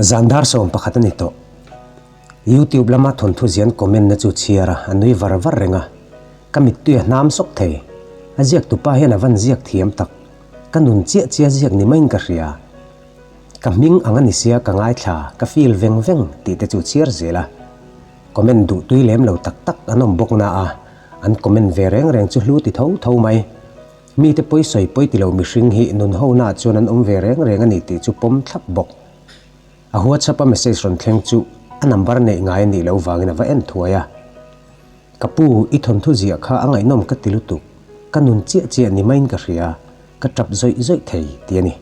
Zan dar sawm pakhat a ni tawh. Youtube lama thawnthu zian comment na chu chhiar a, a nui var var reng a. Ka mittui a hnam sawk thei. A ziak tu pa hian a van ziak thiam tak. Ka nun chiah chiah ziak ni maiin ka hria. Ka hming ang a ni sia ka ngaithla, ka feel veng veng tih te chu chhiar zel a. Comment duhtui lem lo tak tak an awm bawk na a, an comment ve reng reng chu hlu ti tho tho mai. Mite pawi sawi pawi ti lo mihring hi nun honaah chuan an awm ve reng reng a ni tih chu pawm thlap bawk. A whatsapp-a message rawn thleng chu a number neih ngai a nih loh vangin a va en thuai a. Ka pu, i thawnthu ziah kha a ngaihnawm ka ti lutuk, ka nun chiah chiah ni maiin ka hria, ka tap zawih zawih thei, ti a ni.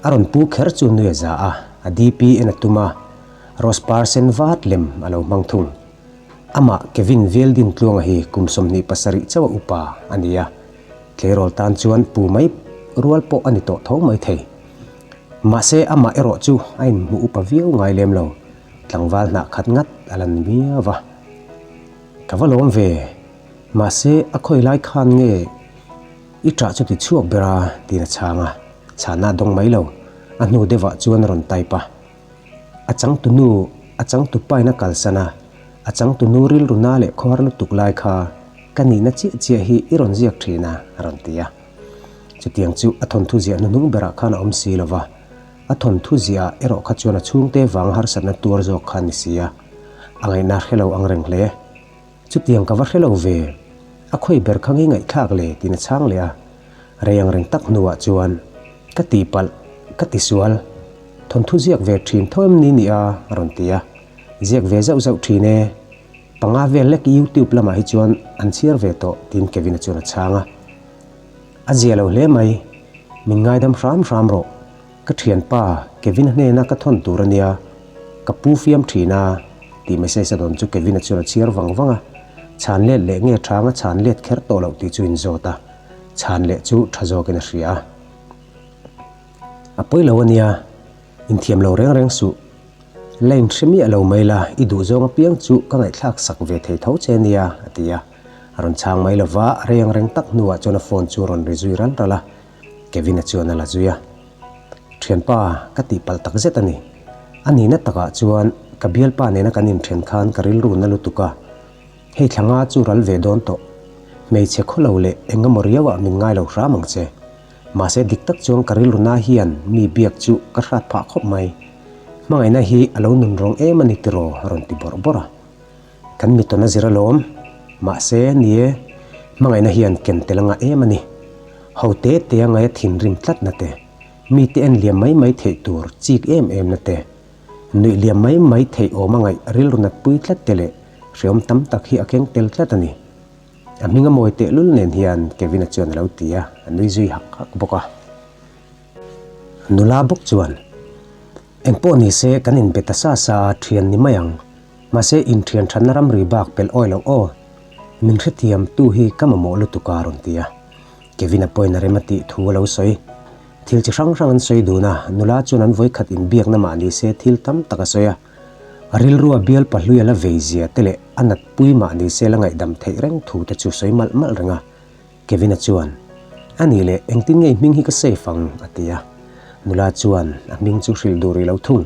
A rawn pu kher chu nui a za a, a DP en a tum a, rose par sen vat lem a lo hmang thung. Amah Kevin Vialdin Tluanga hi kum sawmhnih pasarih chauh a upa a ni a, tleirawl tan chuan pu mai rual pawh a ni tawh tho mai thei. Mahse, amah erawh chu a inhmuh upa viau ngai lem lo, tlangval hnah khat ngat a lan miau a. Ka va lawm ve, mahse a khawi lai khan nge i ṭah chu ti chhuak ber a, tiin a chhang a, chhahna a dawng mai lo. A hnu deuhah chuan a rawn type a. A changtunu, a changtu paina kalsana, a changtunu rilruna leh khuar lutuk lai kha ka nihna chiah chiah hi i rawn ziak thin a, a rawn ti a. Chutiang chu a thawnthu ziah hnuhnung berah khan a awm si lo va, a thawnthu ziahah erawh kha chuan a chhungte vanga harsatna tuar zawk khan ni si a, a ngaihna hrelo ang reng hle. Chutiang ka va hre lo ve. A khawi ber kha ngei ngaihthlak le tin a chhang leh a. Rei ang reng tak hnuah chuan, Ka ti palh, ka ti sual. Thawnthu ziak ve thin tho em ni nih a rawn ti a. Ziak ve zauh zauh thin e. Panga vel lek YouTube lamah hi chuan an chhiar ve tawh tiin Kevina chuan a chhang a. A zia lo hle mai. Min ngaidam hram hram rawh. Ka thianpa Kevin-a hnena ka thawn tur a nia, ka pu fiam thin a, tih message a dawn chu Kevin-a chuan a chhiar vang vang a, chhan let leh nge chhang a chhan let kher tawh loh tih chu in zawt a, chhan leh chu tha zawkin a hria a. A pawi lo a nia, inthiam lo reng reng suh, line hre miah lo mai la, i duh zawng apiang chu ka ngaihthlak sak ve thei tho che nia, a ti a. A rawn chhang mai lova, a reng reng tak hnuah chuan a phone chu a rawn ri zui ral ral a. Kevina chuan a la zui a, Thianpa, ka tihpalh tak zet a ni. A nihna takah chuan ka bialpa nena kan inthen khan ka rilru na lutuk a. Hei thlanga chu ral ve dawn tawh. Hmeichhe khaw lo leh engemaw riauah min ngai lo hram ang che. Mahse dik tak chuan ka rilruna hian mi biak chu ka hrat phah khawp mai. Hmangaihna hi a lo nun reng em a ni tiraw? a rawn ti bawrh bawrh a. Kan mittawn a zir alawm, mahse ni e, hmangaihna hian ken tel a ngah em a ni. Ho te te a ngaia thinrim tlatna te, mite en liam mai mai theih tur chik em emna te, nuih liam mai mai theih awm a ngaih rilru natpui tlat te leh hreawm tam tak hi a keng tel tlat a ni. A hming a mawi tehlul nen hian Kevin-a chuan a lo ti a, a nui zui hak hak bawk a. A nula bawk chuan, Engpawh nise kan inbe ta sa sa a, thian ni mai ang. Mahse inthian thatna ram ri bak pelh awih loh aw, min hrethiam tu hi ka mamawh lutuk a rawn ti a, Kevin a point a rem a tih thu a lo sawi. Thil chi hrang hrang an sawi dun a, nula chuan an vawi khat inbiakna mah ni se thil tam tak a sawi a, a rilrua bial pahlui a la veizia te leh a natpui mah ni se la ngaihdam theih reng thu te chu sawi malh malh reng a, Kevina chuan, A ni le, engtin nge i hming hi ka safe ang? a ti a. Nula chuan, A hming chu hrilh duh rih lo thung.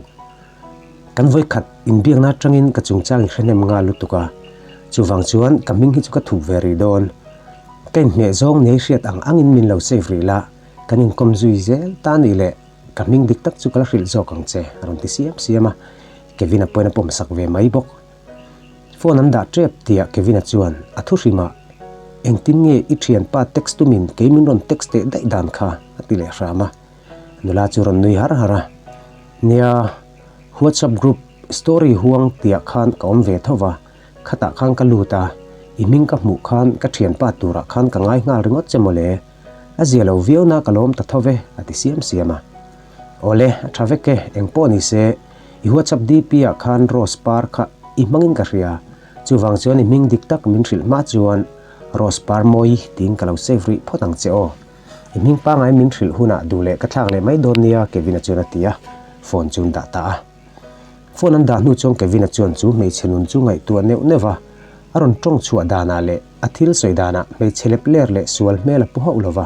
Kan vawikhat inbiakna atangin ka chungchang i hrenem nghal lutuk a, chuvang chuan ka hming hi chu ka thup ve rih dawn. Ka inhmeh zawng ni a hriat ang angin min lo safe rih la, kan inkawm zui zel ta a nih leh, ka hming dik tak chu ka la hrilh zawk ang che, a rawn ti siam siam a. Kevina pawiin a pawmsak ve mai bawk. Phone an dah tep tia Kevin-a chuan a thu hrim a, engtin nge i thianpa text tumin kei min rawn text teh daih dan kha a ti leh hram a, nula chu rawn nui har har a, Nia, WhatsApp group story huang tia khan ka awm ve tho va, khatah khan ka lut a, i hming ka hmuh khan ka thianpa turah khan ka ngai nghal ringawt che mawle, a zia lo viau na ka lawm ta thove a ti siam siam a. Awle, a tha vek e, eng pawh ni se, i WhatsApp DP ah khan Rose par kha i hmangin ka hria. Chuvang chuan i hming dik tak min hrilh hma chuan Rose par mawi tiin ka lo save rih phawt ang che aw. I hming pangai min hrilh hunah duh leh ka thlak leh mai dawn nia Kevin-a chuan a ti a, phone chuan dah ta a. Phone an dah hnu chuan Kevin-a chuan chu hmeichhe nun chu ngaihtuah neuh neuh a, a rawn ṭawng chhuah danah leh a thil sawi danah hmeichhe lep ler leh sual hmel a pu hauh lo va.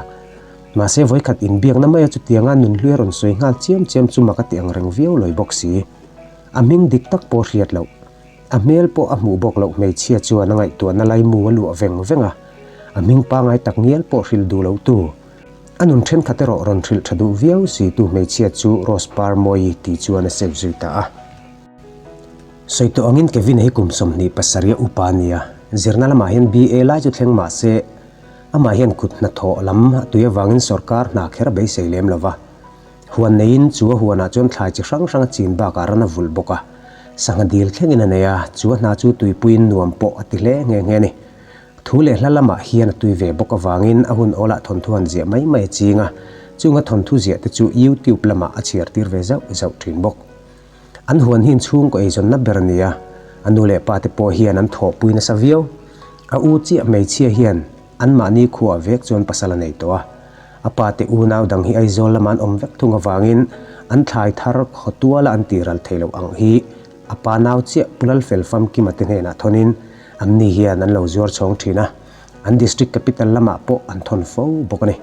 Mahse vawikhat inbiakna maia chutianga nunhlui a rawn sawi nghal chiam chiam chu maka ti ang reng viau lo i bawk si. A hming dik tak pawh hriat loh, a hmel pawh a hmuh bawk loh hmeichhia chuan a ngaihtuahna lai mu a luah veng veng a, a hming pangngai tak ngial pawh hril duh lotu, A nun thenkhat erawh rawn hrilh tha duh viau situ hmeichhia chu Rose Par Mawi tih chuan a save zui ta a. Sawi tawh angin Kevin-a hi kum sawmhnih pasarih a upa a ni a, zirna lamah hian BA lai chu thleng mah se amah hian kut hnathawh lam a tui avangin sorkar hna kher a beisei lem lo va. Huan neiin chu a huanah chuan thlai chi hrang hrang a chin bakah ran a vulh bawk a, sangha dil thlengin a nei a, chu a hna chu tuipuiin nuam pawh a ti hle nghe nghe a ni. Thu leh hla lamah hian a tui ve bawk avangin a hun awlah thawnthu han ziah mai mai a ching a, chunga thawnthu ziah te chu YouTube lamah a chhiar tir ve zauh zauh thin bawk. An huan hi inchhungkaw eizawnna ber a ni a, a nu leh pa te pawh hian an thawhpui nasa viau. A u chiah hmeichhia hian anmahni khuaa vek chuan pasal a nei tawh a, a pa te unau dang hi Aizawl lama an awm vek thung avangin an thlai thar khaw tuala an tihral thei loh ang hi A pa nau chiah Pu Lalfel Famkima te hnenah thawnin an ni hian an lo zuar chhawng thin a, an district capital lamah pawh an thawn fo bawk a ni.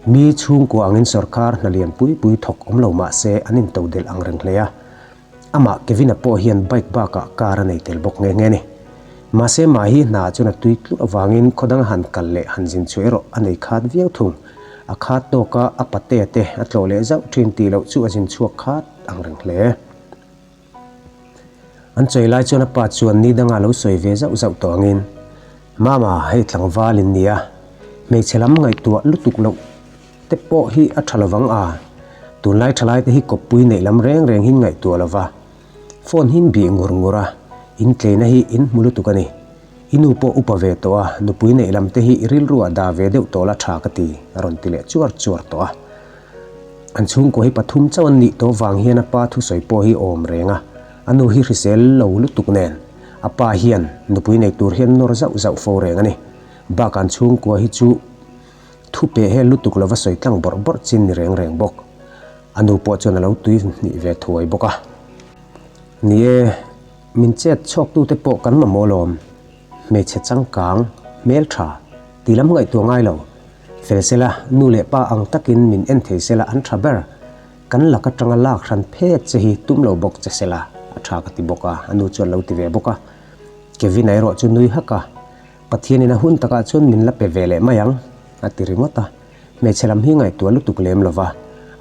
Mi chhungkua angin sorkar hna lian pui pui thawk awm lo mah se an in to delh ang reng hle a. Amah Kevina pawh hian bike bakah car a nei tel bawk nghe nghe ni. Mahse mah hi hna chuan a tui tluk avangin khawdanga han kal leh han zin chu erawh a nei khat viau thung. A khat tawka a pate te a tlawh leh zauh thin tih loh chu a zin chhuak khat ang reng hle. An chawi lai chuan a pa chuan ni danga lo sawi ve zauh zauh tawh angin, Mama, hei tlangval in nia, hmeichhe lam ngaihtuah lutuk loh te pawh hi a tha lo vang a, tunlai thalai te hi kawppui neih lam reng reng hi'n ngaihtuah lo va, phone hi'n bih ngur ngur a, in tleina hi in hmu lutuk a ni. I nu pawh upa ve tawh a, nupui neih lam te hi i rilruah dah ve deuh tawh la tha ka ti, a rawn ti leh chuar chuar tawh a. An chhungkaw hi pathum chauh an nih tawh vang hian a pa thusawi pawh hi a awm reng a, a nu hi hrisel lo lutuk nen a pa hian nupui nei tur hian nawr zauh zauh fo reng a ni. Bak an chhungkaw hi chu thu peh hel lutuk lova sawi tlang bawrh bawrh chin ni reng reng bawk. A nu pawh chuan a lo tui hnih ve thuai bawk a, Ni e, min chet chhuak tute pawh kan mamawh alawm. Hmeichhe changkang, hmeltha, ti lam ngaihtuah ngai lo. Fel sela, nu leh pa ang takin min en thei sela an tha ber. Kan lak atanga lak hran phet che hi tum lo bawk che sela a tha ka ti bawk a, a nu chuan lo ti ve bawk a. Kevin a erawh chu nui hak a, Pathianin a hun takah chuan min la pe ve leh mai ang, a ti ringawt a. Hmeichhe lam hi ngaihtuah lutuk lem lo va,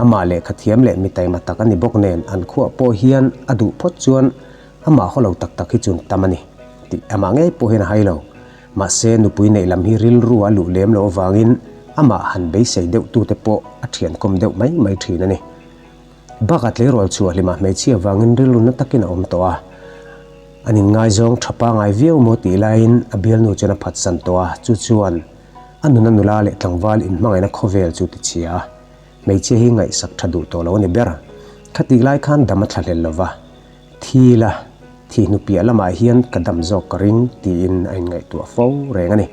amah leh kha thiam leh mi taima tak a ni bawk nen an khuaah pawh hian a duh phawt chuan amah haw lo tak tak hi chun tam a ni tih amah ngei pawhin a hai lo. Mahse, nupui neih lam hi rilru a luh lem lo avangin amah han beisei deuh tute pawh a thiankhawm deuh mai mai thin a ni. Bakah tleirawl chhuah hlim ah hmeichhia avangin rilruna takin a awm tawh a, an inngaizawng tha pangai viau maw tih laiin a bialnu chuan a phatsan tawh a, chu chuan, A nuna nula leh tlangval inhmangaihna khawvel chu ti chhia a, hmeichhia hi ngaihsak tha duh tawh lo a ni ber. Khatih lai khan dam a thla hlel lo va, thil a thi hnu piah lamah hian ka dam zawk ka ring tiin a inngaihtuah fo reng a ni.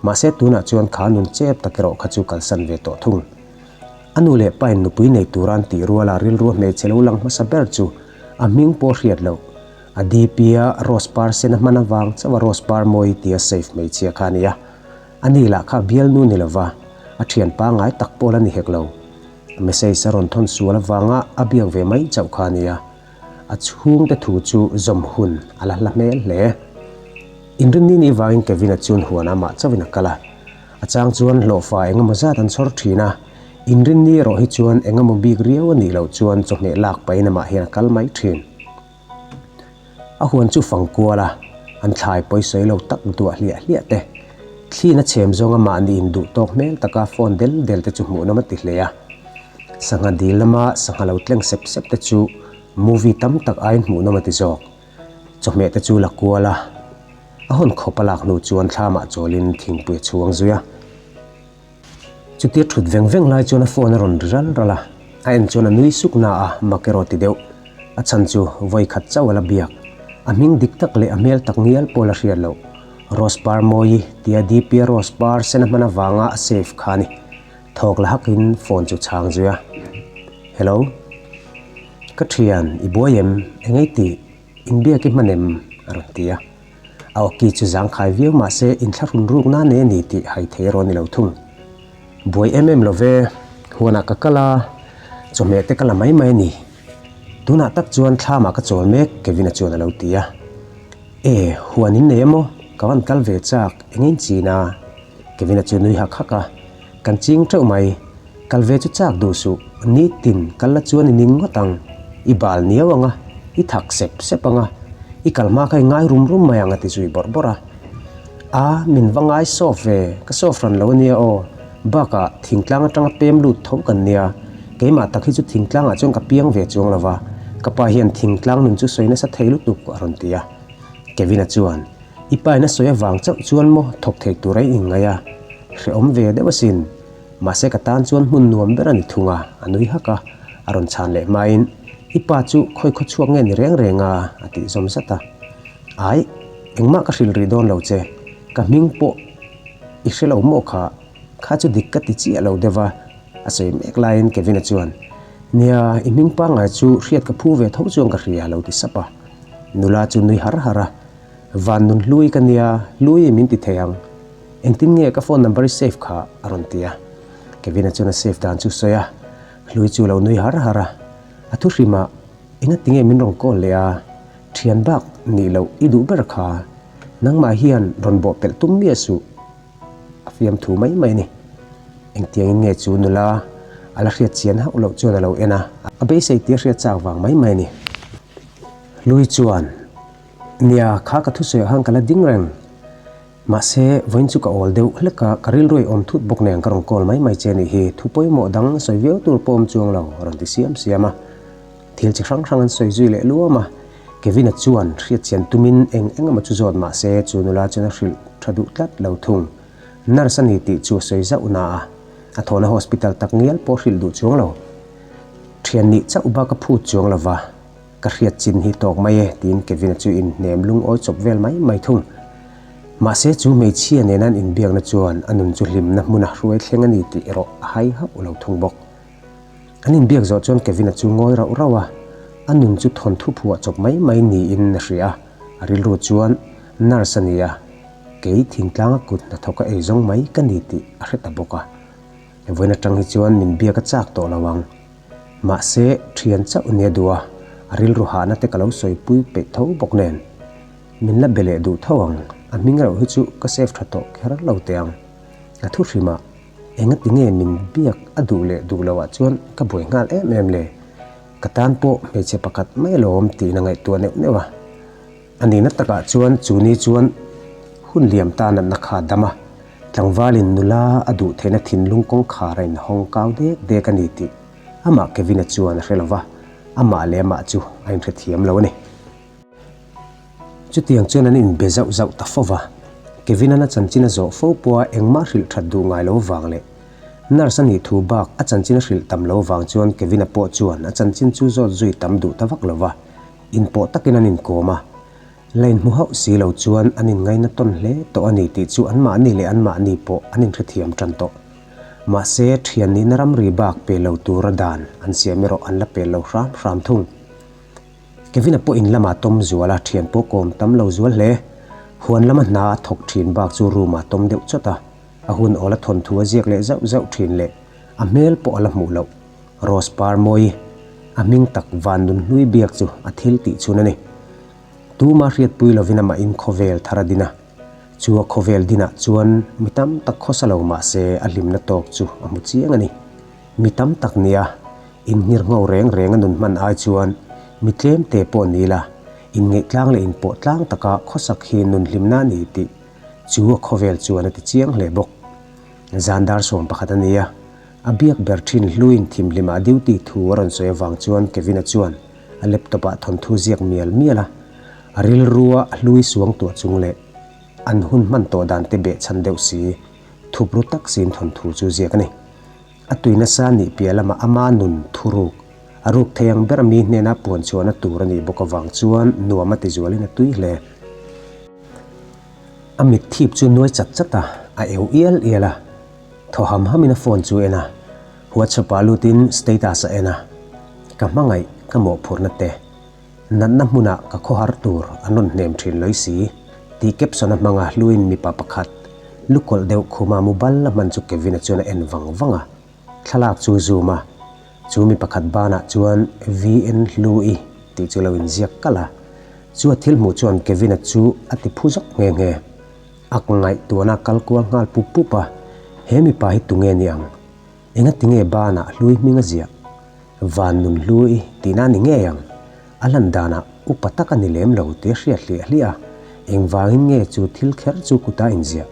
Mahse tunah chuan kha nun chep tak erawh kha chu kalsan ve tawh thung. A nu leh pain nupui nei turan tihruala rilru a hmeichhe lo lang hmasa ber chu a hming pawh a hriat loh. A DP a rose par sen a hman avang chauh a rose par mawi tia safe hmeichhia kha a ni a, a ni lah kha bial nu ni lova a thian pangai tak pawh la ni hek lo. A message a rawn thawn sual avanga a biak ve mai chauh kha a ni a, a chhungte thu chu zawm hun a la hla hmel hle. Inrin ni ni vangin Kevin a chun huan a mah chauhin a kal a, a chang chuan hlawhfa engemaw zat an chhawr thin a, Inrin ni erawh hi chuan engemaw bik riau a nih loh chuan chawhmeh lak pahin amah hian a kal mai thin. A huan chu fang kuala an thlai pawisawi lo tak duah hliah hliah te. Thlin a chhem zawnga mahni in duh tawk hmel taka phone del del te chu hmuh lam a ti hle a. Sangha dil lama sangha lo tleng sep sep te chu movie tam tak aiin hmuh nawm a ti zawk. Chawhmeh te chu la kual a. A hawn khawp a lak hnu chuan thla mah chawlin thingpui a chhuang zui a. Chutia thut veng veng lai chuan a phone a rawn ri ral ral a, a en chuan a nui suk na a mak erawh ti deuh. A chhan chu vawi khat chauh a la biak. A hming dik tak leh a hmel tak ngial pawl a hriat loh. Rose par mawi tia dipia rose par sena hman avanga a save kha a ni. Thawk la hak in phone chu chhang zui a. Hello. Ka thian, i buai em? Engaiti? Inbiak i hman em? a rawn ti a. A awki chu zangkhai viau mah se inthlahrun ruk nan e ni tih hai thei a rawn ni lo thung. Buai em em lo ve, huanah ka kal a, chawhmeh te ka la mai mai a ni. Tunah tak chuan thlamah ka chawl mek, Kevin-a chuan a lo ti a. E, huan in nei emaw? Ka van kal ve chak, eng a in chin a? Kevin-a chu nui hak hak a. Kan ching teuh mai, kal ve chu chak duh suh, ni tin kal la chuan i ning ngawt ang, i bal niau ang a, i thak sep sep ang a, i kal hma kha i ngai rum rum mai ang a ti zui bawrh bawrh a. A, min va ngai sawp ve, ka sawp hran lo a nia aw, bak ah thingtlang atanga pem lut tho kan nia, keimah tak hi chu thingtlang ah chuan ka piang ve chuang lo va, ka pa hian thingtlang nun chu sawi nasa thei lutuk a rawn ti a. Kevin a chuan. I pain a sawi avang chauh chuan maw thawk theih tur a inngaih a, hrehawm ve deuh asin. Mahse ka tan chuan hmun nuam ber a ni thung a, a nui hak a, a rawn chhan leh hmain, I pa chu khawi khaw chhuak nge ni reng reng a, a tih zawm zat a. Ai, engmah ka hrilh rih dawn lo che, ka hming pawh i hre lo maw kha, kha chu dik ka ti chiah lo deuh a, a sawi mek laiin Kevin-a chuan, Nia, i hming pangngai chu hriat ka phu ve tho chuan ka hria, lo ti sap a. Nula chu nui har har a. Vannun hlui ka nia, hlui i min ti thei ang. Engtin nge ka phone number i save kha? a rawn ti a. Kevin-a chuan a save dan chu sawi a, hlui chu lo nui har har a. A thuhrim ah, Enga tinge min rawn call leh a, thian bak nih loh i duh ber kha, nangmah hian rawn bawhpelh tum miah suh, a fiam thu mai mai a ni. Engtiangin nge chu nula a la hriat chian hauh loh chuan a lo en a, a beisei tir hriat chak vang mai mai a ni. Hlui chuan. Nia kha ka thusawi ah khan ka la ding reng. Mahse, vawiin chu ka awl deuh hlek a, ka rilruai awm thut bawk nen ka rawn call mai mai che nih hi, thu pawimawh dang sawi viau tur pawh awm chuang lo, a rawn ti siam siam a. Thil chi hrang hrang an sawi zui leh luam a. Kevin-a chuan hriatchian tumin eng eng emaw chu zawt mahse, chu nula chuan a hrilh tha duh tlat lo thung. Nurse a ni tih chu a sawi zauh na a, a thawhna hospital tak ngial pawh a hrilh duh chuang lo. Thian nih chauh bak a phut chuang lo va, Ka hriat chin hi tawk mai e, tiin Kevin-a chu inhnem lungawi chawp vel mai mai thung. Mahse, chu hmeichhia nena an inbiakna chuan a nun chu hlimna hmuna hruai thleng a ni tih erawh a hai hauh ulo thung bawk. An inbiak zawh chuan Kevin-a chu ngawi rauh rauh a, a nun chu thawn thuphuah chawp mai mai niin a hria. A rilru chuan, Nurse a nia, kei thingtlanga kut hna thawka ei zawng mai ka ni tih a hre ta bawk a. Vawiin atang hi chuan min biak a chak tawh lo ang. Mahse, ṭhian chauh nia duh a, a rilru hahna te ka lo sawi pui peih tho bawk nen. Min la be leh duh tho ang, a hming erawh hi chu ka save ṭha tawh kher lo teh ang. Ka thu hrim a, enga ti nge min biak a duh leh duh lo ah chuan ka buai nghal em em le. Ka tan pawh hmeichhe pakhat mai alawm tihna ngaihtuah neuh neuh a. A nihna takah chuan chu ni chuan hun liam ta natna kha a dam a, tlangvalin nula a duh theihna thinlung kawngkhar a inhawng kau dek dek a ni tih amah Kevin-a chuan a hre lo va, amah leh amah chu a inhre thiam lo a ni. Chutiang chuan an inbe zauh zauh ta fo va, Kevin-a na chanchin a zawh fo pawha engmah hrilh that duh ngai lo vang leh nurse-a nih thu bak a chanchin a hrilh tam lo vang chuan Kevin-a pawh chuan a chanchin chu zawt zui tam duh ta vak lo va. Inpawh takin an inkawm a, line hmu hauh si lo chuan an inngaina tawn hle tawh a ni tih chu anmahni leh anmahni pawh an inhrethiam tan tawh. Mahse, thian nihna ramri bak pe lo tura dan an siam erawh an la pel lo hram hram thung. Kevina pawh in lamah tawm zual a, thian pawh kawm tam lo zual hle. Huan lama hna a thawk thin bak chu room ah tawm deuh chawt a, a hun awl a thawn thu a ziak leh zauh zauh thin leh a hmel pawh a la hmuh loh. Rose par mawi a hming tak van nun hlui biak chu a thil tih chhun a ni. Tuma hriatpui lovin amah in khawvel thar a din a. Chu a khawvel din ah chuan mi tam tak khawsa lo mah se a hlimna tawk chu a hmu chiang a ni. Mi tam tak nia in nghir nghau reng reng a nun hman ai chuan mi tlem te pawh ni la in ngeihtlang leh in pawh tlang tak a khawsak hi nun hlimna a ni tih chu a khawvel chuan a ti chiang hle bawk. Zan dar sawm pakhat a nia. A biak ber thin hluin thimhlimah duty thu a rawn sawi avang chuan Kevina chuan a laptop ah thawnthu ziak mial mial a. A rilru a a hlui suang tuah chung leh an hun hman tawh dan te beh chhan deuh si thup ru tak sin thawnthu chu ziak a ni. A tui nasa nih piah lamah ama nun thu ruk a ruk thei ang ber mi hnena puan chhuahna tur a nih bawk avang chuan nuam a tizualin a tui hle. A mitthip chu nuai chat chat a, a eu ial ial a. Thaw ham hamin a phone chu en a, WhatsApp ah lutin status a en a, ka hmangaih ka mawhphurhna te natna hmunah ka khawhar tur a nawn hnem thin lawih si tih caption a hmang a hluin mipa pakhat lu kawlh deuh khuma mu bal a hman chu Kevin a chuan a en vang vang a, thlalak chu a zoom a, chu mi pakhat banah chuan VN hlu i tih chu a lo inziak kalh a, chu a thil hmuh chuan Kevin a chu a ti phu zawk nghe nghe. A ngaihtuahna a kal kual nghal pup pup a, he mipa hi tunge ni ang? Engatinge bana a hlui hming a ziah? Van nun hlui tih na ni ngei ang? A hlan danah upa tak a ni lem lo tih a hriat hlih a hlih a, engvangin nge chu thil kher chu kutah a inziah?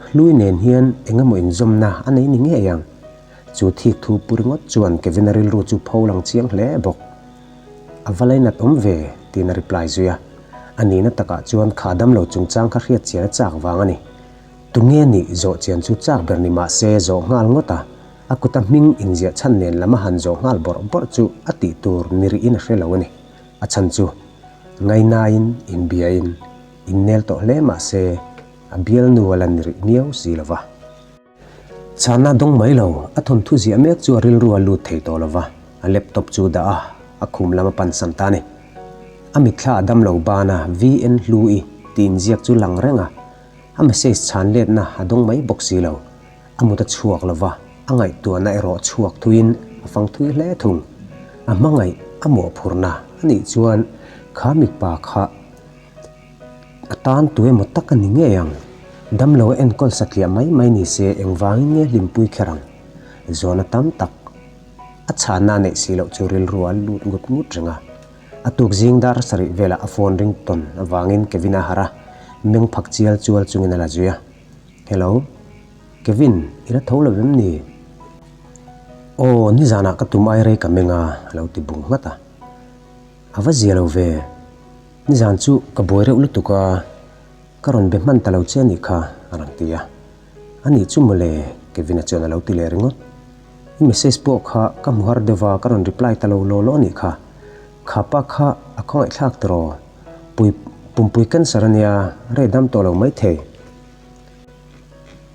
Hlui nen hian engemaw inzawmna a nei ni ngei ang? Chu thik thu pu ringawt chuan Kevin-a rilru chu pho lang chiang hle bawk. A va lei nat awm ve, tiin a reply zui a. A nihna takah chuan kha dam lo chungchang kha hriatchian a chak vang a ni. Tunge ni zawhchian chu chak ber ni mahse zawh nghal ngawt a, a kuta hming inziah chhan nen lama han zawh nghal bawrh bawrh chu a tih tur ni rihin a hre lo a ni. A chhan chu ngai naiin in biain in nel tawh hle mahse a bialnu a la ni rih miau si lo va. Chahna dawng mai lo, a thawnthu ziah mek chu a rilru a lut thei tawh lo va, a laptop chu dah a a khum lam a pan san ta ni. A mitthla a dam lo ban a, VN hlu i ti inziak chu lang reng a, a message chhan letna a dawng mai bawk si lo. A mut a chhuak lo va, a ngaihtuahna erawh chhuak thuin a fang thui hle thung. A hmangaih a mawhphurhna anih chuan kha mipa kha Ka tan tu emaw tak a ni ngei ang. Damlo a enkawl satliah mai mai ni se engvangin nge hlimpui kher ang? Zawhna tam tak a chhah na neih si loh chu rilru a lut ngut ngut reng a. A tuk zing dar sarih velah a phone ring ton avangin Kevin a har a, meng phak chial chual chungin a la zui a. Hello? Kevin, i la tho lo em ni? Aw, nizanah ka tum airei ka meng a, a lo ti bung nghat a. A va zia lo ve. Nizan chu ka buai reuh lutuk a, ka rawn be hman ta lo che a nih kha, a rawn ti a. A nih chu mawle, Kevin-a chuan a lo ti leh ringawt. I message pawh kha ka hmu har deuh va, ka rawn reply ta lo law law a nih kha. Khapa kha a khawngaihthlak tiraw? Pui, pumpui cancer a nia, rei dam tawh lo maithei.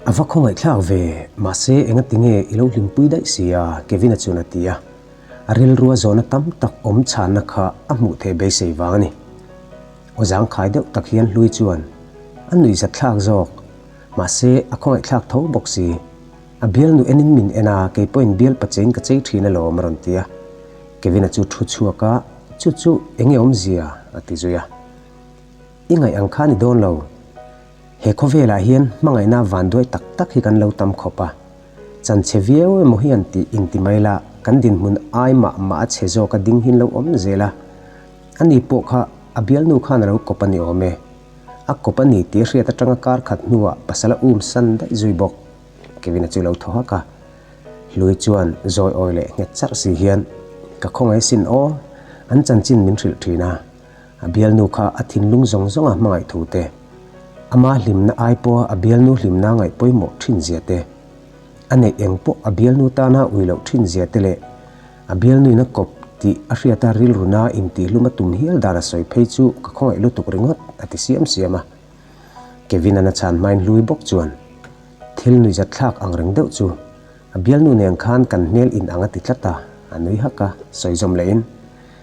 A va khawngaihthlak ve, mahse enga tinge i lo hlimpui daih si a? Kevin-a chuan a ti a. A rilrua zawhna tam tak awm chhânna kha a hmuh theih beisei vang a ni. Aw zangkhai deuh tak hian Hlui chuan a nuihzat thlak zawk, mahse a khawngaihthlak tho bawk si. A bialnu enin min en a, kei pawhin bial pachein ka chei ṭhin alawm a rawn ti a. Kevin-a chu ṭhu chhuak a, chu chu enge awmzia? a ti zui a. I ngaih ang kha a ni dawn lo. He khawvelah hian hmangaihna van duai tak tak hi kan lo tam khawp a, chanchhe viau emaw hi an tih inti mai la, kan dinhmun ai mah mah a chhe zawk a, ding hi an lo awm zel a. A ni pawh kha a bialnu khan a lo kawp a ni awm e. A kawp a ni tih hriat atanga kar khat hnuah pasal a um san daih zui bawk. Kevin-a chu lo thaw hak a, Hlui chuan zawi awi leh nghet charh si hian ka khawngaih sin aw, an chanchin min hrilh thin a, a bialnu kha a thinlung zawng zawnga hmangaih thu te, ama hlimna ai pawha a bialnu hlimna ngaih pawimawh ṭhinzia te, a neih eng pawh a bialnu tana ui loh ṭhinzia te leh a bialnuina kawp tih a hriata rilruna intihhlum a tum hial dan a sawi phei chu ka khawngaih lutuk ringawt, a ti siam siam a. Kevin-ana chhan hmain hlui bawk chuan, Thil nuihzat thlak ang reng deuh chu a bialnu nen khan kan hmel in anga ti tlat a, a nui hak a. Sawi zawm lehin.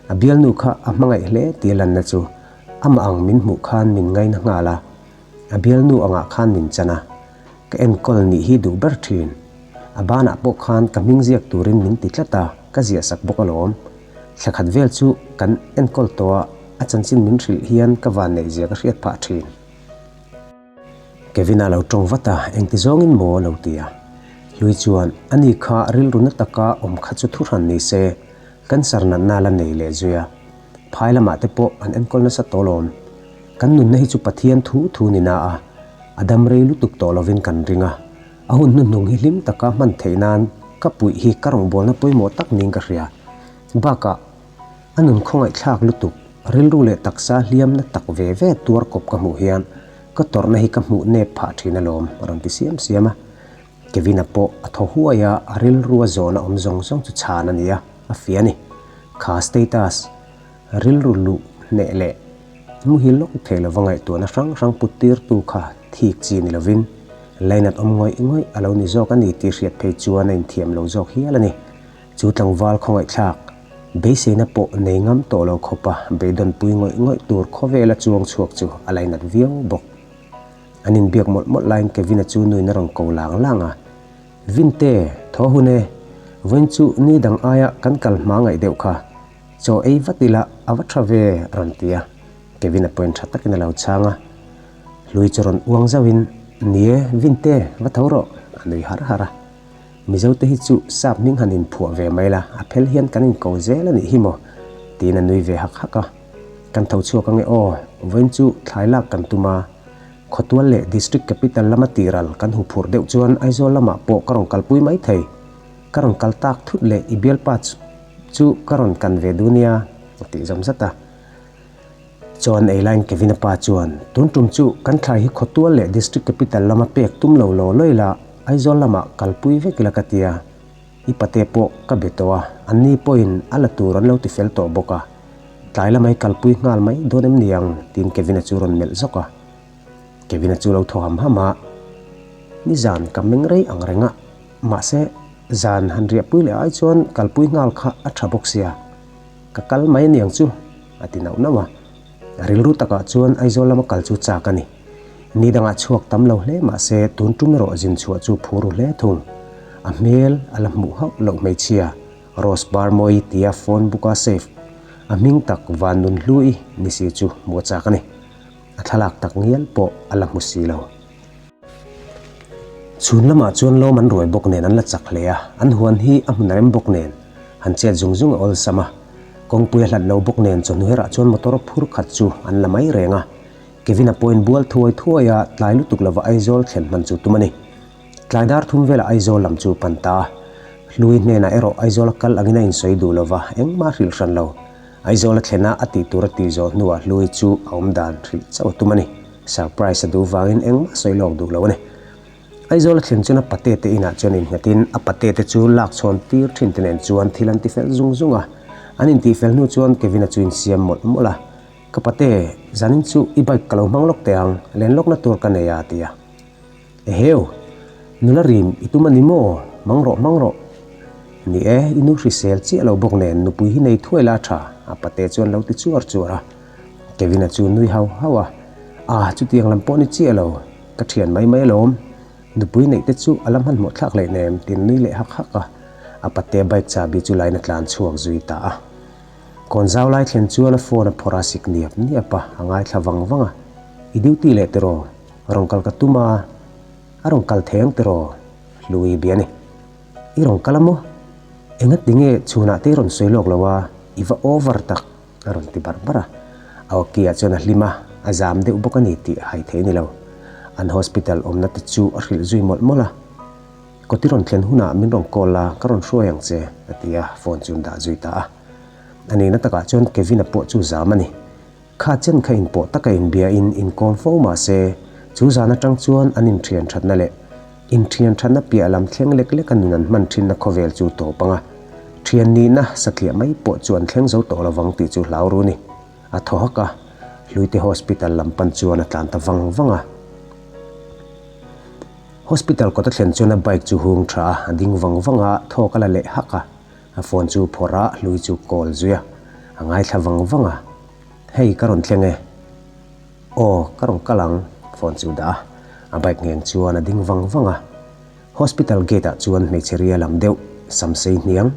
A bialnu kha a hmangaih hle tih lanna chu amah ang min hmuh khan min ngaina nghal a, a bialnu angah khan min chan a, ka enkawl nih hi duh ber thin. A banah pawh khan ka hming ziak turin min ti tlat a, ka ziah sak bawk alawm. Thla khat vel chu kan enkawl tawha a chanchin min hrilh hian ka vanneih ziak a hriat phah thin. Kevina lo ṭawng vat a, engti zawngin maw a lo ti a. Hlui chuan, A ni kha, rilru na taka awm kha chu thuhran ni se, cancer natna la nei leh zui a. Phai lamah te pawh an enkawl nasa tawh lawm. Kan nunna hi chu Pathian thu thu ni na a, a dam rei lutuk tawh lovin kan ring a. A hun hnuhnung hi hlim taka hman theih nan ka puih hi ka rawngbawlna pawimawh tak niin ka hria. Bakah A nun khawngaihthlak lutuk, rilru leh taksa hliamna tak ve ve tuar kawp ka hmuh hian ka tawrhna hi ka hmuh nep phah thin alawm a rawn ti siam siam a. Kevina pawh a thaw huai a, a rilru a zawn a awm zawng zawng chu chhan a ni a, a fia ni. Kha status rilru luh hneh leh muhil lawk thei lova ngaihtuahna hrang hrang puttirtu kha thik chi ni lovin lainat awm ngawih ngawih a lo ni zawk a ni tih hriat phei chuan a inthiam lo zawk hial a ni. Chu tlangval khawngaihthlak beiseina pawh nei ngam tawh lo khawpa beidawn pui ngawih ngawih tur khawvela chuang chhuak chu a la inat viau bawk. An inbiak mawlh mawlh laiin Kevina chu nuin a rawn ko lang lang a, Vinte, thaw hun e, vawiin chu ni dang aia kan kal hma ngaih deuh kha, chaw ei vat ila a va tha ve a rawn ti a, Kevina pawhin tha takin a lo chhang a, hlui chu rawn uang zauhin, Ni e, Vinte, va tho rawh, a nui har har a. Mizo te hi chu sap hming han in phuah ve mai la, a phel hian kan in ko zel a nih hi maw? tiin a nui ve hak hak a. Kan tho chhuak ange aw, vawiin chu thlai lak kan tum a. Khawtual leh District Capital lama tihral kan hu phur deuh chuan Aizawl lamah pawh ka rawn kalpui mai thei. Ka rawn kal tak thut leh i bialpa chu ka rawn kan ve dun nia, a tih zawm zat a. Chuan Eilain Kevina pa chuan, Tun tum chu kan thlai hi khawtual leh district capital lama pek tum lo law lawi la, Aizawl lamah kalpui vek ila ka tia, i pate pawh ka be tawh a, an ni pawhin a la tur an lo ti fel tawh bawk a, tlai lama hi kalpui nghal mai dawn em ni ang? tiin Kevina chu rawn melh zawk a. Kevina chu lo thaw ham ham a, Nizan ka meng rei ang reng a, mahse, zan han riahpui leh ai chuan kalpui nghal kha a tha bawk sia. Ka kal mai aniang chu, a ti nauh nauh a. Rilru takah chuan Aizawl lama kal chu chak a ni. Ni dangah chhuak tam lo hle mahse tun tum erawh zin chhuah chu phu ru hle thung. A hmel a la hmuh hauh loh hmeichhia Rose Barmawi tia phone book a save a hming tak Vannun Hlui ni si chu hmuh a chak a ni. A thlalak tak ngial pawh a la hmu si lo. Chhun lamah chuan lawm an ruai bawk nen an la chak hle a, an huan hi a hmun a rem bawk nen han chet zung zung a awlsam a. Kawngpui a hlat lo bawk nen chawhnu herah chuan motor phur khat chu an la mai reng a. Kevin a point bual thuai thuai a, tlai lutuk lovah Aizawl thlen hman chu tum a ni. Tlai dar thum velah Aizawl lam chu pan ta a. Hlui hnenah erawh Aizawl a kal angin a insawi duh lo va, engmah hrilh hran lo. Aizawl a thlen a a tih tur a tih zawh hnuah Hlui chu a awmdan hrilh chauh a tum a ni. Surprise a duh vangin eng a sawi lawk duh lo a ni. Aizawla thlen chuan a pate te inah chuan innghetin a pate te chu lak chhawn tir thin te nen chuan thil an ti fel zung zung a. An intih fel hnu chuan Kevin-a chu insiam mawlh mawlh a, Ka pate, zanin chu i bike ka lo hmang lawk teh ang, len lawkna tur ka nei a, a ti a. Eheu! Nula rin i tum a ni maw? Hmang rawh, hmang rawh. A ni e, i nu hrisel chiah lo bawk nen nupui hi nei thuai la tha, a pate chuan lo ti chuar chuar a. Kevin-a chu nui hau hau a, Ah, chutiang lam pawh ni chiah lo, ka thian mai mai alawm. Nupui neih te chu a la hman hmawh thlak lehin em? tiin nui leh hak hak a. A pate bike chabi chu lain a tlan chhuak zui ta a. Kawn zau lai thlen chuan a phone a phawrh a sik niap niap a, a ngaithla vang vang a, I duty leh tiraw? Rawn kal ka tum a, a rawn kal theng tiraw? Hlui bia ni. I rawn kal a maw? Engatinge chhunah te i rawn sawi lawk lo a, i va over tak, a rawn ti bar bar a. A Oki-a chuan a hlim a, a zam deuh bawk a ni tih a hai thei ni lo. An hospital awmna te chu a hrilh zui mawlh mawlh a. Kaw ti rawn thlen hunah min rawn call a, ka rawn hruai ang che, a ti a, phone chu an dah zui ta a. A nihna takah chuan Kevin-a pawh chu zam a ni. Kha chen kha inpawh taka inbia in inkawm fo mah se, chu zan atang chuan an inthian thatna leh inthian thatna piah lam thleng lek leka nun an hman thinna khawvel chu tawp anga thian nihna satliah mai pawh chu an thleng zo tawh lo vang tih chu hlau ru ni. A thaw hak a, Hluite Hospital lam pan chuan a tlan ta vang vang a. Hospital kawta thlen chuan a bike chu hung tha a, a ding vang vang a, thawk a la leh hak a. A phone chu phawrh a, hlui chu call zui a, a ngaithla vang vang a, Hei ka rawn thleng e, Aw ka rawn kal ang, phone chu dah a, a bike ngheng chuan a ding vang vang a. Hospital gate ah chuan hmeichhe ria lam deuh, sam sei hniang,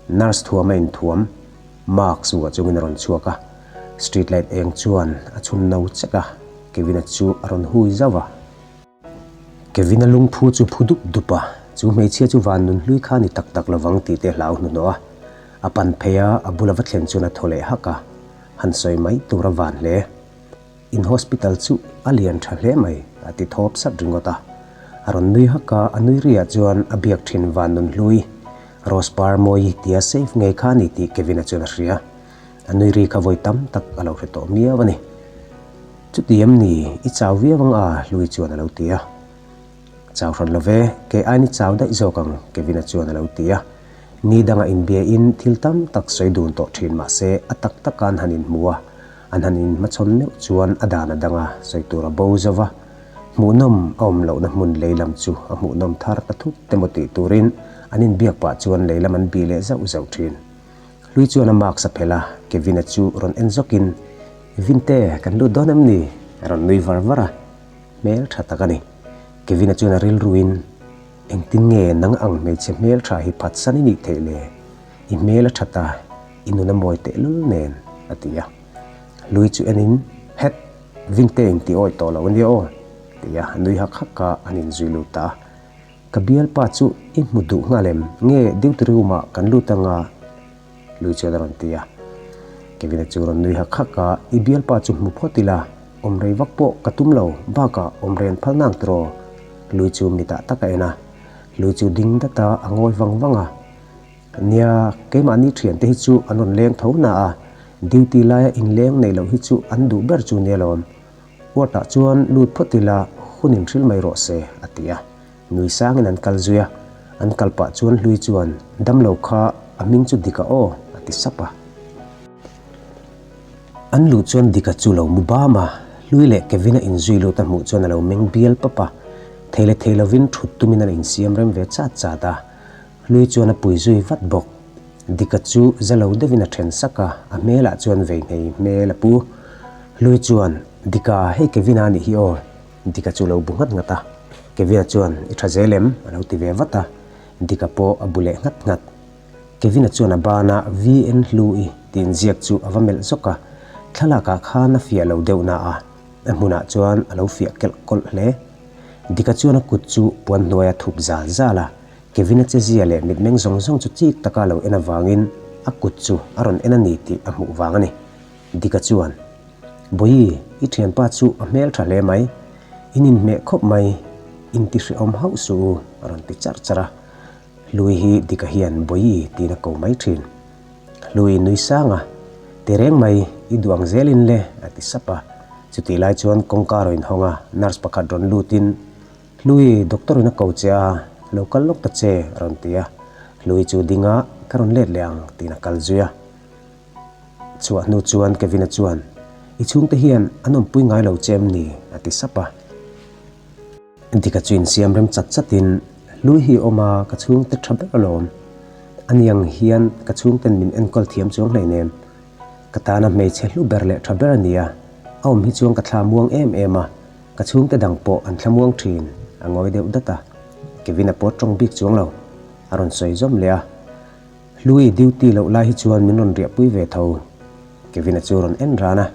nurse thuam a inthuam, Mark chu a chungin a rawn chhuak a, street light eng chuan a chhun no chek a, Kevin-a chu a rawn hui zauh a. Kevina lungphu chu phu dup dup a, chu hmeichhia chu van nun hlui kha ni tak tak lovang tih te a hlau hnu hnawha a pan phei a, a bula va thlen chuan a thaw leh hak a, han sawi mai tur a van hle. In hospital chu a lian tha hle mai, a ti thawp sat ringawt a, a rawn nui hak a, a nui riah chuan a biak thin van nun hlui, Rose par mawi tia safe ngei kha ni tih Kevina chuan a hria. A nui ri kha vawi tam tak a lo hre tawh miau a ni. Chutiam ni, i chau viau ang a, Hlui chuan a lo ti a. Chau hran lo ve, kei aiin i chau daih zawk ang, Kevin-a chuan a lo ti a. Ni danga inbiain thil tam tak sawi dun tawh thin mah se a tak taka an han inhmu a, an han inhmachhawn meuh chuan a dan a dang a, sawi tur a bo zauh a. Hmuhnawm a awm lohna hmun lei lam chu a hmuhnawm thar ta thut te maw tih turin an inbiak pah chuan lei lam an bi leh zauh zauh thin. Hlui chuan a maksa phelh a, Kevina chu rawn en zawkin, Vinte, kan lut dawn em ni? a rawn nui var var a. Hmel tha tak a ni. Kevina chuan a rilruin, Engtin nge nang ang hmeichhe hmel tha hi phatsan i nih theih le? I hmel a that a, i nun a mawi tehlul nen, a ti a. Hlui chu enin, Hek! Vinte-in ti awih tawh lo ania aw, tia a nui hak hak a, an inzui lut ta a. Ka bialpa chu i hmu duh nghal em? Nge duty room ah kan lut anga? Lui chuan a rawn ti a. Kevin a chu rawn nui hak hak a, i bialpa chu hmu phawt ila, awm rei vak pawh ka tum lo, bakah awm rei an phal nang tur aw? Lui chu mi tah tak a en a. Lui chu ding dat a, a ngawi vang vang a. Nia, keimahni thian te hi chu an rawn leng tho hna a, duty laia inleng nei loh hi chu an duh ber chu nia lawm. Kuatah chuan lut phawt ila, hun in hril mai rawh se, a ti a. Nui sangin an kal zui a, an kal pah chuan Hlui chuan, Damlo kha a hming chu Dika aw, a ti sap a. An lut chuan Dika chu lo mu bam a, Hlui leh Kevina inzui lutna hmuh chuan a lo meng bial pap a, thei leh thei lovin thut tumin an insiam rem ve chat chat a. Hlui chuan a pui zui vat bawk. Dika chu za lo deuh in a then sak a, a hmel ah chuan vei nghei hmel a pu. Hlui chuan, Dika, hei Kevin a nih hi aw. Dika chu lo bu nghat nghat a. Kevin a chuan, I tha zel em? a lo ti ve vat a. Dika pawh a bu leh nghat nghat. Kevin a chuan a ban a, vi en hlu i ti in ziak chu a va melh zawk a. Thlalak ah khan a fiah lo deuh na a, a hmun ah chuan a lo fiah kelh kawlh hle. Dika chuan a kut chu puan hnuai a thup zal zal a. Kevina che zia leh mitmeng zawng zawng chu chik taka lo en avangin a kut chu a rawn en a ni tih a hmuh vang a ni. Dicka chuan, Bawihi, i thianpa chu a hmel tha hle mai, in inhmeh khawp mai, in tihriawm hauh suh u, a rawn ti char char a. Hlui hi Dicka hian Bawihi tiin a ko mai thin. Hlui, Nuisanga, ti reng mai, i duh ang zel in le, a ti sap a. Chutih lai chuan kawngka a rawn inhawng a, nurse pakhat rawn lutin, Hlui doctor in a ko che a, lo kal lawk ta che a rawn ti a, Hlui chu ding a ka rawn let leh ang tiin a kal zui a. Chhuah hnu chuan Kevina chuan, I chhungte hian an awmpui ngai lo che em ni? a ti sap a. Dicka chu insiam rem chat chat in, Hlui hi awm a, ka chhungte tha ber alawm, aniang hian ka chhungten min enkawl thiam chuang hlei nem, ka tana hmeichhe hlu ber leh tha ber a nia, a awm hi chuan ka thla muang em em a, Ka chhungte dang pawh an thlamuang thin a ngawi deuh dat a, Kevin a pawt tawng bik chuang lo, a rawn sawi zawm leh a. Hlui duty loh lai hi chuan min rawn riahpui ve tho. Kevin-a chu rawn en ran a,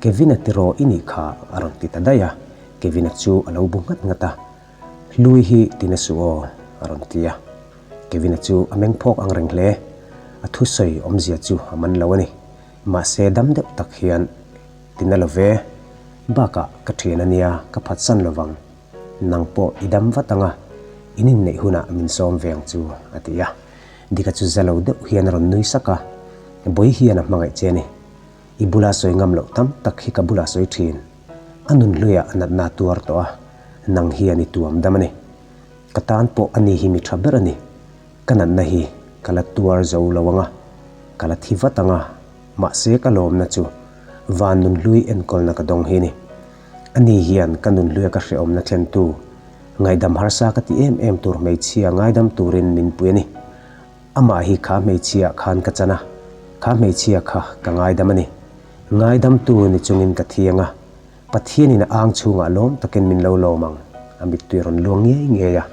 Kevin-a ti rawh i nih kha a rawn ti ta daih a, Kevin-a chu a lo bu nghat nghat a, Hlui hi ti na suh aw a rawn ti a. Kevin-a chu a meng phawk angreng hle, a thusawi awmzia chu a man lo a ni, mahse dam deuh tak hian, Ti na love, bakah ka thian a nia, ka phatsan lovang, nang pawh i dam vat anga in inneih hunah min sawm ve ang chu, a ti a. Dika chu za lo deuh hian a rawn nui sak a, Bawi hian a hmangaih che ni, i bula sawi ngam loh tam tak hi ka bula sawi thin, a nun hluiah a natna a tuar tawh a, nang hian i tuam dam a ni. Ka tan pawh ani hi mi tha ber a ni, ka natna hi ka la tuar zo lo anga, ka la thi vat anga, Mahse ka lawmna chu van nunhlui enkawlna ka dawng hi a ni. Ani hian ka nunhlui a ka hrehawmna thlentu, ngaihdam harsa ka ti em em tur hmeichhia ngaidam turin min pui a ni. Amah hi kha hmeichhiah khan ka chan a, kha hmeichhia kha ka ngaidam a ni. Ngaidam tu ni chungin ka thiang a, Pathianin a ang chhungah lawm takin min lo lawm ang, a mittui a rawn luang ngei ngei a,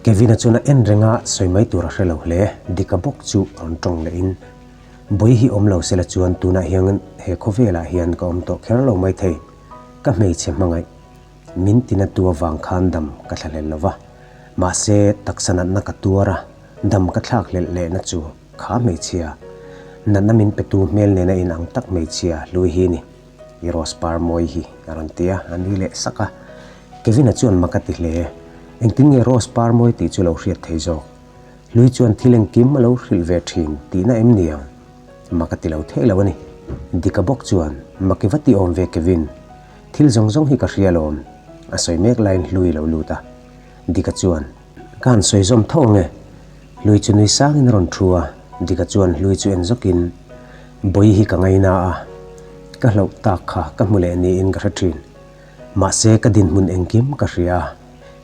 Kevina chuan a en renga sawi mai tur a hre lo hle, dik a bawk chu a rawn tawng leh in. Bawi hi awm lo se la chuan tunah hian he khawvelah hian ka awm tawh kher lo mai thei, ka hmeichhe hmangaih min ti na tua vang khan dam ka thla hlel lova, mahse taksa natna ka tuar a, dam ka thlak hlelh leh na chu kha hmeichhia natna min pe tu hmel nena in ang tak hmeichhia hlui hi a ni. I Rosepar mawi hi a rawn ti a, a nui leh sak a. Kevin-a chuan maka ti hle, Engtin nge Rosepar mawi tih chu lo hriat thei zawk? Hlui chuan thil engkim a lo hrilh ve thin tihna em nia? Maka ti lo thei lo a ni. Dick-a bawk chuan, Maki va ti awm ve Kevin, thil zawng zawng hi ka hrial awm, a sawi mek laiin Hlui lo lut a. Dick-a chuan, Ka han sawi zawm tho nge? Hlui chu nui sang in a rawn thu a, Dika chuan hlui chu en zawk in, Bawi hi ka ngaina a, ka hloh tak kha ka hmu leh ni in ka hre thin. Mahse ka dinhmun engkim ka hria,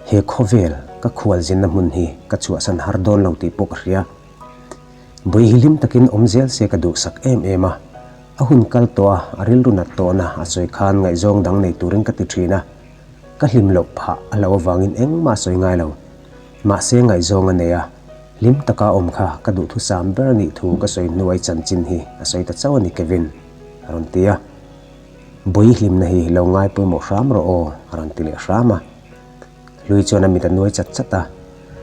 he khawvel ka khual zinna hmun hi ka chhuahsan har dawn lo tih pawh ka hria. Bawi hi hlim tak in awm zel se ka duhsak em em a, a hun kal tawh a, a rilru nat tawh na a sawi khan ngaihzawng dang nei tur in ka ti thin a, Ka hlim loh phah a lo avangin engmah a sawi ngai lo. Mahse ngaihzawng a nei a, hlim taka awm kha ka duhthusam ber a nih thu ka sawi hnuai chanchin hi a sawi ta chauh a ni Kevin a rawn ti a. Bawihi hlimna hi lo ngai pawimawh hram rawh aw a rawn ti leh hram a. Hlui chuan a mit a nuai chat chat a,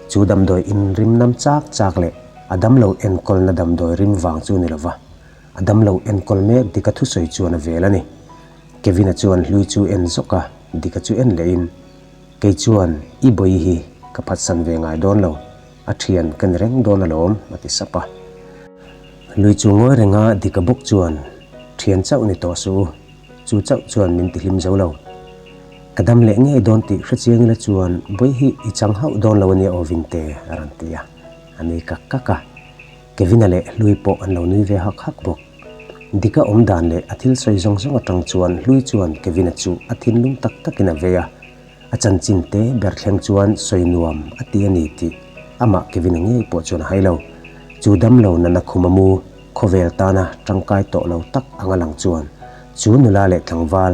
chu damdawi inrimnam chak chak leh a damlo enkawlna damdawi rim vang chu ni lova, a damlo enkawl mek dika thusawi chuan a vel a ni. Kevina chuan hlui chu en zawk a, Dicka chu en leh in, Kei chuan i bawi hi ka phatsan ve ngai dawn lo, a thian ka ni reng dawn alawm, a ti sap a. Hlui chu ngawi reng a, Dicka bawk chuan, Thian chauh ni tawh suh u, chu chauh chuan min ti hlim zo lo. Ka dam leh ngei dawn tih hre chiang ila chuan bawi hi i chang hauh dawn lo ania aw Vinte, a rawn ti a, a ni kak kak a. Kevina leh Hlui pawh an lo nui ve hak hak bawk. Dika awm dan leh a thil sawi zawng zawng atang chuan Hlui chuan Kevina chu a thinlung tak takin a vei a. A chanchin te ber thleng chuan sawi nuam a ti a ni tih amah Kevina ngei pawh chuan a hai lo. Chu dam lo nana khum a mu khawvel tana tangkai tawh lo tak anga lang chuan chu nula leh tlangval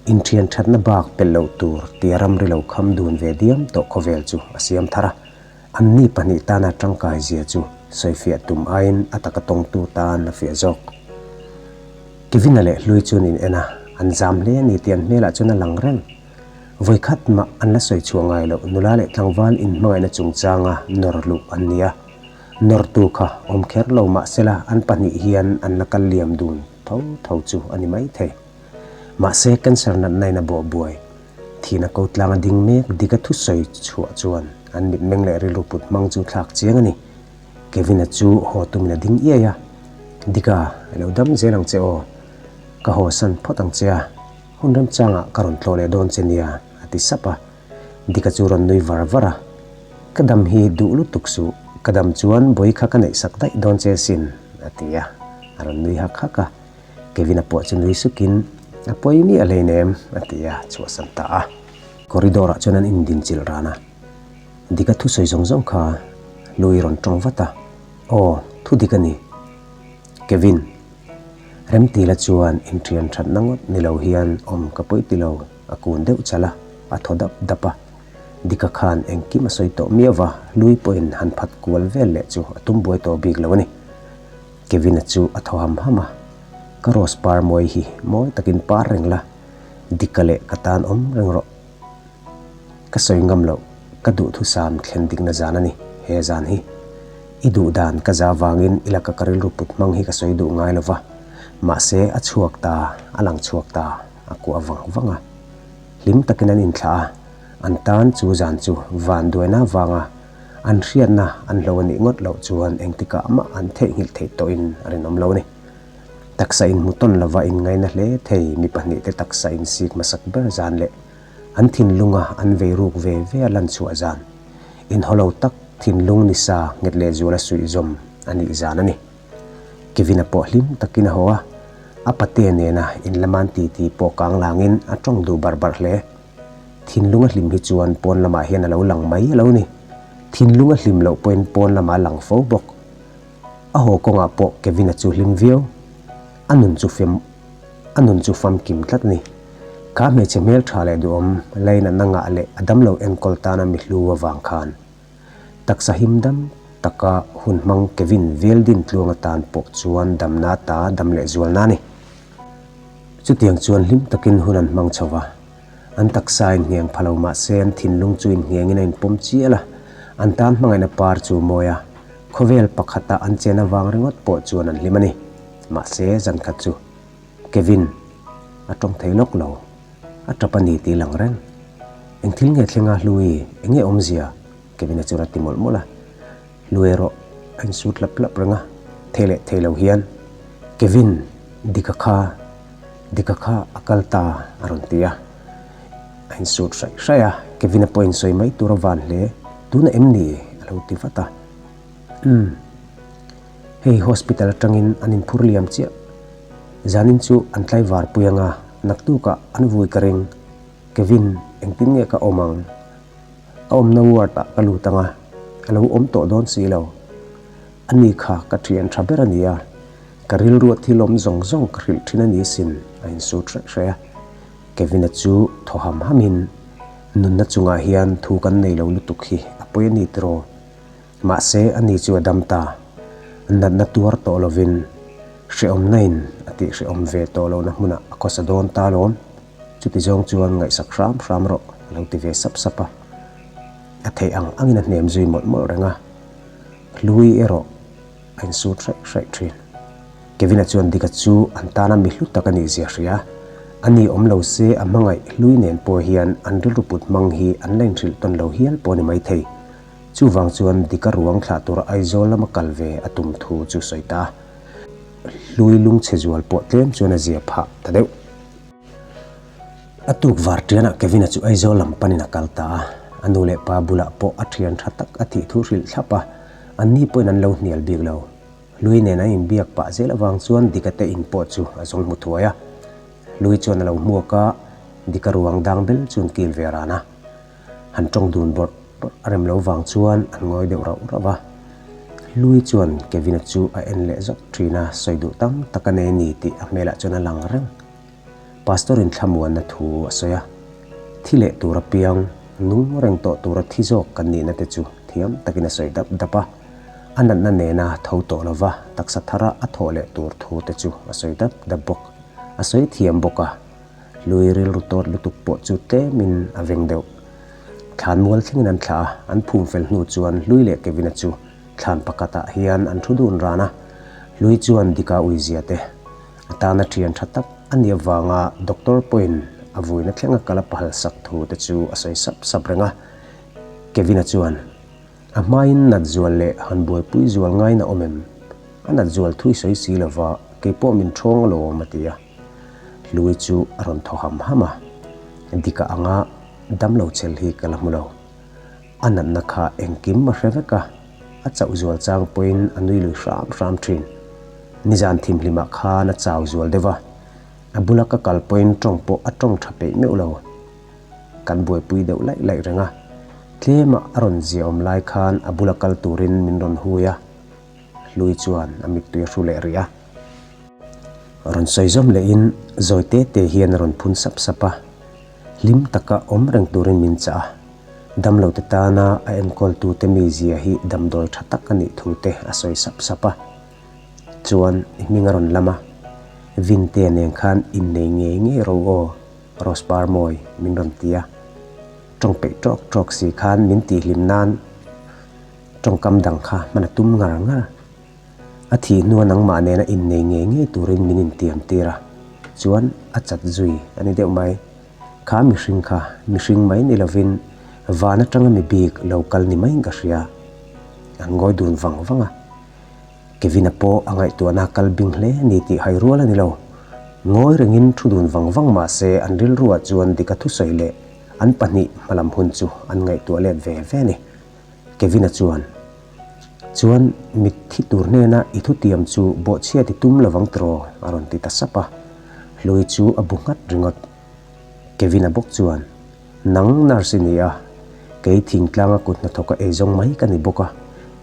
in thianthatna bak pelh loh tur tia ramri lo kham dun ve diam tawh khawvel chu a siam thar a. An ni pahnih tana tangkai zia chu sawifiah tum aiin a taka tawngtu tan a fiah zawk. Kevina leh Hlui chuan in en a, an zam hle a ni tih an hmelah chuan a lang reng. Vawi khat mah an la sawi chhuah ngai loh, nula leh tlangval in hmangaihna chungchanga nawr luh an ni a. Nawrtu kha awm kher lo mahsela an pahnih hian an la kal liam dun tho tho chu a ni maithei. Mahse cancer natna in a bawhbuai. Thin a ko tlang a ding mek dik a thu sawi chhuah chuan an mitmeng leh rilru put hmang chu thlak chiang a ni. Kevina chu haw tumin a ding iai a, Dika, i lo dam zel ang che aw, ka haw san phawt ang che a, hun rem changah ka rawn tlawh leh dawn che nia, a ti sap a. Dika chu rawn nui var var a, Ka dam hi duh lutuk suh, ka dam chuan bawi kha ka neih sak daih dawn che asin, a ti a, a rawn nui hak hak a. Kevin a puah chu nui suk in, A pawi miah a hlein em? a ti a, chhuah san ta a. Corridor ah chuan an in din chilh ran a, Dick a thusawi zawng zawng kha Louie rawn tawng vat a, Aw, thu Dick a ni. Kevin, Remti la chuan in thian that na ngawt ni lo hian awm ka pawi ti lo, a kun deuh chal a, a thaw dap dap a. Dick a khan engkim a sawi tawh miau va, Louie pawhin han phat kual vel leh chu a tum buai tawh bik lo a ni. Kevina chu a thaw ham ham a, Ka rose par mawi hi mawi takin par reng la, dika leh ka tan awm reng rawh. Ka sawi ngam loh, ka duhthusam thlen dikna zan a ni he zan hi. I duh dan ka za vangin i laka ka rilru put hmang hi ka sawi duh ngai lo va, mahse a chhuak ta, a lang chhuak ta a kuah vang vang a. Hlim takin an inthlah a, an tan chu zan chu vanduaina vanga an hriatna an hlo a nih ngawt loh chuan engtikah mah an theihnghilh theih tawhin a rinawm lo a ni. Taksa in hmu tawn lova inngaina hle thei mi pahnihte taksa in sik hmasak ber zan leh an thinlunga an vei ruk ve ve a lan chhuah zan, inhaw lo tak thinlung ni sa nghet leh zual a suih zawm a nih zan a ni. Kevina pawh hlim takin a haw a, a pate nena in laman ti ti pawh kang langin a tawng duh bar bar hle. Thinlunga hlim hi chuan pawn lamah hian a lo lang mai a lo ni. Thinlunga hlim loh pawhin pawn lamah a lang fo bawk. A haw kawngah pawh Kevin-a chu hlim viau. A nun chu fem a nun chu famkim tlat a ni. Ka hmeichhe hmeltha leh duhawm Lane-a na ngah leh a damlo enkawl tana mi hlu avang khan Taksa him dam taka hun hmang Kevin Veldin tluang atan pawh chuan damna ata dam leh zual na a ni. Chutiang chuan hlim takin hun an hmang chho va, an taksa a inhniang pha lo mahse an thinlung chu inhniangin a inpawm chial a, an tan hmangaihna par chu mawia khawvel pakhata an chen avang ringawt pawh chuan an hlim a ni. Mahse, zan khat chu. Kevin, a tawng thei lawk lo, a tap a ni tih lang reng. Eng thil nge thlenga Hlue, eng nge awmzia? Kevin a chuan a ti mawlh mawlh a. Hlue erawh a insut hlap hlap reng a, thei leh thei lo hian. Kevin, Dika kha, Dika kha a kal ta a rawn ti a, a insut hraih hraih a. Kevin a point sawi mai tur a van hle, tuna em ni? A lo ti vat a. Umm. Hei hospital atangin an inphur liam chiah. Zanin chu an tlaivar pui anga naktukah an vui ka ring. Kevin, engtin nge ka awm ang? A awmna ward ah ka lut anga a lo awm tawh dawn si lo. A ni kha ka thian tha ber a nia. Ka rilruah thilawm zawng zawng ka hrilh thin a ni sin, a insûr hreh hreh a. Kevina chu thaw ham hamin, Nunna chungah hian thu kan nei lo lutuk hi a pawi a ni tiraw? Mahse a ni chu a dam ta. A natna tuar tawh lovin hrehawmnain a tih hrehawm ve tawh lohna hmunah a khawsa dawn ta lawm. Chuti zawng chuan ngaihsak hram hram rawh a lo ti ve sap sap a. A theih ang angin a hnem zui mawlh mawlh reng a. Hlui erawh a insur hraih hraih thin. Kevina chuan Dicka chu an tana mi hlu tak a nih zia hria. A ni awm lo se a hmangaih hlui nen pawh hian an rilru put hmang hi an la inhrilh tawn lo hial pawh a ni maithei. Chuvang chuan Dika ruang thlah tura Aizawl lama kal ve a tum thu chu sawi ta. Hlui lungchhezual pawh tlem chuan a zia phah ta deuh. A tukvar tianah Kevin-a chu Aizawl lam panin a kal ta a. A nu leh pa bulah pawh a thian tha tak a tih thu hrilh thlap a. Anni pawhin an lo hnial bik lo. Hlui nen a inbiak pah zel avang chuan Dika te in pawh chu a zawng hmu thuai a. Hlui chuan a lo hmuak a, Dika ruang dang bel chuan kil ve a ran a. Han tawng dun bawrh bawrh a rem lo vang chuan an ngawi deuh rauh rauh a. Lui chuan Kevin-a chu a en leh zawk thin a, sawi duh tam tak a nei a ni tih a hmelah chuan a lang reng. Pastor-in thlamuanna thu a sawi a, thi leh tur apiang nung reng tawh tura thi zawk kan nihna te chu thiam takin a sawi dap dap a, a natna nena tho tawh lova taksa thara a thawh leh tur thu te chu a sawi dap dap bawk. A sawi thiam bawk a. Lui rilru tawt lutuk pawh chu tlemin a veng deuh. Thlan mual thlengin an thlah a, an phum fel hnu chuan Lui leh Kevina chu thlan pakatah hian an thu dun ran a. Lui chuan Dicka uizia te atana thian tha tak a nih avanga doctor pawhin a vuina thlenga kal a pahal sak thu te chu a sawi sap sap reng a. Kevina chuan, A hmain nat zual leh han buaipui zual ngaina awm em? A nat zual thui sawi si lova, keipawh min thawng alawm a ti a. Hlui chu a rawn thaw ham ham a, dik a ang a, damlo chhel hi ka la hmu lo. A natna kha engkim a hre vek a, a chauh zual chang pawhin a nui lui hram hram thin. Nizan thim hlim ah khan a chau zual deuh a, a bula ka kal pawhin tawng pawh a tawng tha peih meuh lo. Kan buaipui deuh laih laih reng a, tlem ah a rawn ziaawm lai khan a bula kal turin min rawn hui a, Hlui chuan a mittui a hru leh rih a. Rawn sawi zawm leh in zawi te te hian a rawn phun sap sap a. Hlim tak a awm reng tur in min chah a. Damlo te tan a a enkawl tu te mi zia hi damdawi tha tak a nih thu te a sawi sap sap a. Chuan i hming a rawn lam a. Vin te nen khan in nei ngei ngei ro aw Rose par mawi min rawn ti a. Tawng peih tawk tawk si khan min tih hlim nan. Tawngkam dang kha hman a tum ngar ngar. A thih hnu a nangmah nena innei ngei ngei turin min intiam tir a, chuan a chat zui a ni deuh mai. Kha mihring kha mihring mai ni lovin van atanga mi bik lo kal ni maiin ka hria. An ngawi dun vang vang a. Kevina pawh a ngaihtuahna a kal bing hle ni tih hai rual a ni lo. Ngawi rengin thu dun vang vang mahse an rilruah chuan dik a thusawi leh an pahnih hmalam hun chu an ngaihtuah let ve ve a ni. Kevina chuan, Chuan mitthi tur hnena i thutiam chu bawhchhiat i tum lovang tiraw? a rawn ti ta sap a. Hlui chu a bu nghat ringawt. Kevina bawk chuan, Nang nurse i nia, kei thingtlanga kut hnathawka ei zawng mai ka ni bawk a,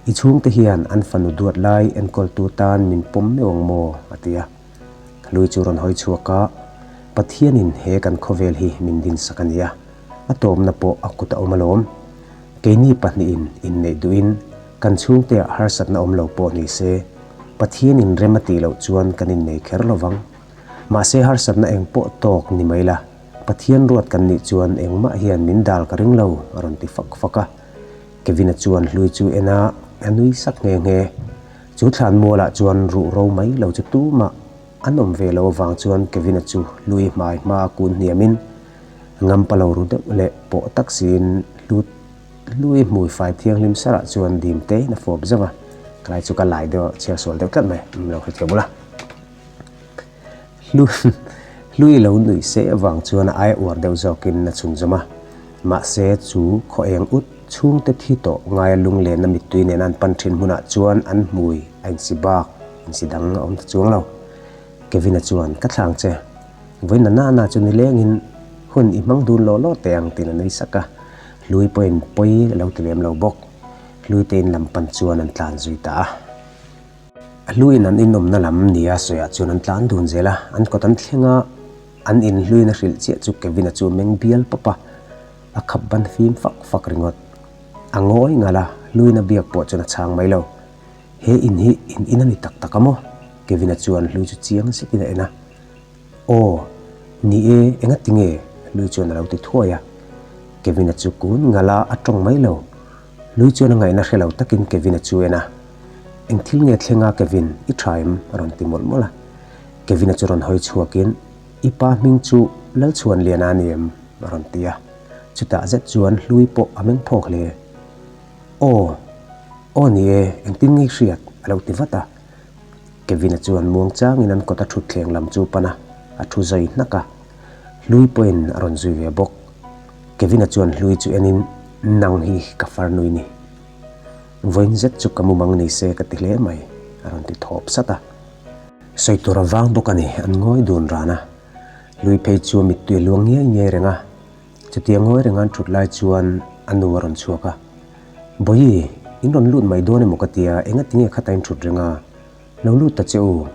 i chhungte hian an fanu duat lai enkawltu tan min pawm meuh ang maw? a ti a. Lui chu rawn hawi chhuak a, Pathianin he kan khawvel hi min din sak a nia, a tawpna pawh a kut a awm alawm. Keini pahnihin inneih duhin kan chhungteah harsatna awm lo pawh ni se, Pathianin rem a tih loh chuan kan innei kher lo vang. Mahse harsatna eng pawh tawk ni mai la, Pathian ruat kan nih chuan engmah hian min dal ka ring lo, a rawn ti fak fak a. Kevina chuan hlui chu en a, a nui sak nghe nghe. Chu thlan mualah chuan ruh ro mai lo chu tumah an awm ve lo avang chuan Kevin-a chu hlui hmai hma kun hniamin ngam palo ru deuh leh pawh tak siin hlut hlui hmuifai thianghlim sarah chuan dim teiin a fawp zauh a, ka lai chu ka lai deuh a chhiarsual deuh tlat mai a lo hre thei bawla. Hlu hlui lo nuih seh avang chuan a ai uar deuh zawkin a chhunzawm a. Mahse, chu khaw eng ut chhungte thi tawh ngaia lunglenna mittui nena an pan thin hmunah chuan an hmui a insi bak, insi dang a awm ta chuang lo. Kevin-a chuan, Ka thlang che. Vawiinna nana chu nilengin, Hun, i hmang dun lawh lawh teh ang, tiin a nui sak a. Hlui pawhin pawi a lo ti lem lo bawk. Hluitein lam pan chuan an tlan zui ta a. A hluin an inawmna lam nia sawiah chuan an tlan dun zel a, an kawt an thleng a, an in hluina hrilh chiah chu Kevina chu a meng bial pawp a, a khap ban fim fak fak ringawt. A ngawi ngal a, hluina biak pawh chuan a chhang mai lo. He in hi in in a ni tak tak a maw? Kevina chuan hlui chu chiang zetin a en a. Aw, ni e, enga ti nge? Hlui chuan a lo ti thuai a. Kevina chu kun ngal a, a tawng mai lo. Hlui chuan a ngaihna hre lo takin Kevin-a chu en a, Eng thil nge thleng a Kevin, i tha em? a rawn ti mawlh mawlh a. Kevin-a chu rawn hawi chhuakin, I pa hming chu Lalchhuanliana a ni em? a rawn ti a. Chutah zet chuan Hlui pawh a meng phawk hle. Aw, aw ni e, engtin nge i hriat? a lo ti vat a. Kevin-a chuan muang changin an kawta thutthleng lam chu pan a, a thu zui hnak a. Hlui pawhin a rawn zui ve bawk. Kevina chuan hlui chu en in, Nang hi ka far nui ni. Vawiin zet chu ka mumang ni se ka ti hle mai, a rawn ti thawp sat a. Sawi tur a vang bawk a ni, an ngawi dun ran a. Hlui phei chu a mittui a luang ngiai ngiai reng a, chuti a ngawi reng a an thut lai chuan a nu a rawn chhuak a, Bawihi, in rawn lut mai dawn emaw ka tia, engatinge khata in thut reng a, lo lut ta che u.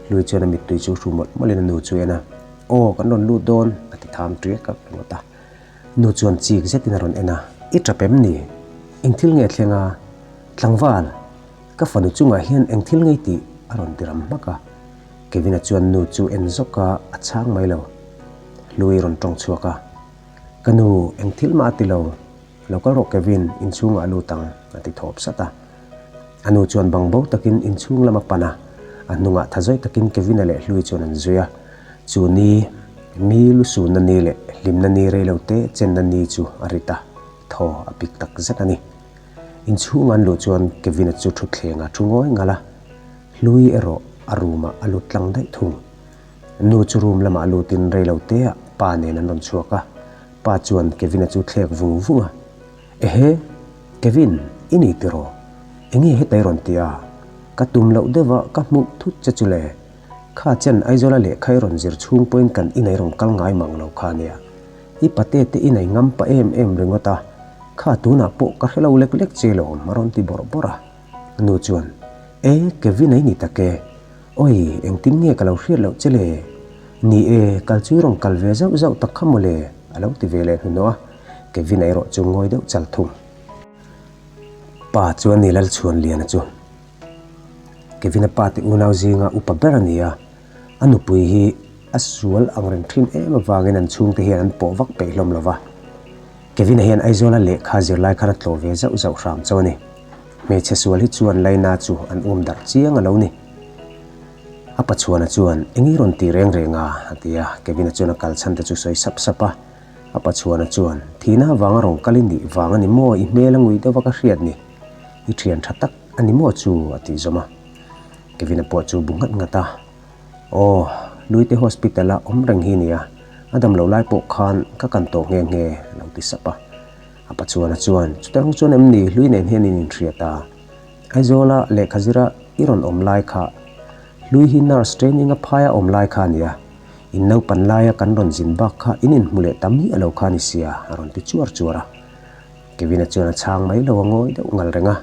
Hlui chuan a mittui chu hru mawlh mawlhin a nu chu a en a, Aw kan rawn lut dawn a ti tham tui ka ringawt a. Nu chuan chik zetin a rawn en a, I ṭap em ni? Engthil nge a thleng a? Tlangval, ka fanu chungah hian engthil ngei tih a rawn ti ram hmak a. Kevina chuan nu chu en zawk a, a chhang mai lo. Hlui rawn ṭawng chhuak a, Ka nu engthil mah a ti lo. Lo kal rawh Kevin, inchhungah a lut ang, a ti thawp sat a. A nu chuan bang bo takin inchhung lam a pan a, a hnungah tha zawih takin Kevina leh Hlui chuan an zui a. Chu ni, mi lu sunna ni leh hlimna ni rei lo te chenna ni chu a rit a, thaw a pik tak zet a ni. Inchhungah an lut chuan Kevina chu thutthlengah a thu ngawi ngal a. Hlui erawh a roomah a lut tlang daih thung. A nu chu room lamah a lutin rei lo teah pa nen an rawn chhuak a. Pa chuan Kevina chu thlek vung vung a, Ehe, Kevin, i ni tiraw? Enge heta i rawn ti a? Ka tum loh deuh a, ka hmuh thut che chu le. Kha chen Aizawla lehkha i rawn zir chhung pawhin kan inei rawn kal ngai mang lo kha nia. I pate te inei ngam pah em em ringawt a, kha tunah pawh ka hrelo lek lek che lo, a rawn ti bawrh bawrh a. A nu chuan, E, Kevin-a i ni tak e. Awi, engtin nge ka lo hriat loh che le? Ni e, kal chu i rawn kal ve zauh zauh tak kha maw le? A lo ti ve leh hnuhnawh a, Kevin-a erawh chu ngawi deuh chal thung. Pa chuan ni lal chhuan liana chu Kevin-a pa teh unau zinga upa ber a ni a, a nupui hi a sual angreng thin em avangin an chhungte hian an pawh vak peih hlawm lo va. Kevina hian Aizawla lehkha zirlai khan a tlawh ve zauh zauh hram chauh a ni. Hmeichhe sual hi chuan Laina chu an awm darh chiang a lo ni. A pachhuana chuan, Eng i rawn tih reng reng a? a ti a. Kevina chuan a kal chhante chu sawi sap sap a. A pachhuana chuan, Thihna avang a rawn kal i nih vang a ni maw? I hmel a ngui deuh vak a hriat ni. I thian tha tak a ni maw chu? a tih zawm a. Kevina pawh chu bu nghat nghat a. Aw, Luite hospital a awm reng hi a ni a, a dam loh lai pawh khan ka kan tawh nghe nghe a lo ti sap a. A pa Chuana chuan, Chute rawng chuan em ni, Lui nen hian in inhria ta. Aizawla lehkha zira i rawn awm lai kha Lui hi nurse training a phai a awm lai kha a ni a, in naupan laia kan rawn zin bak kha in inhmu leh ta mi a lo kha a ni sia a rawn ti chuar chuar a. Kevina chuan a chhang mai lo a ngawi deuh ngal reng a,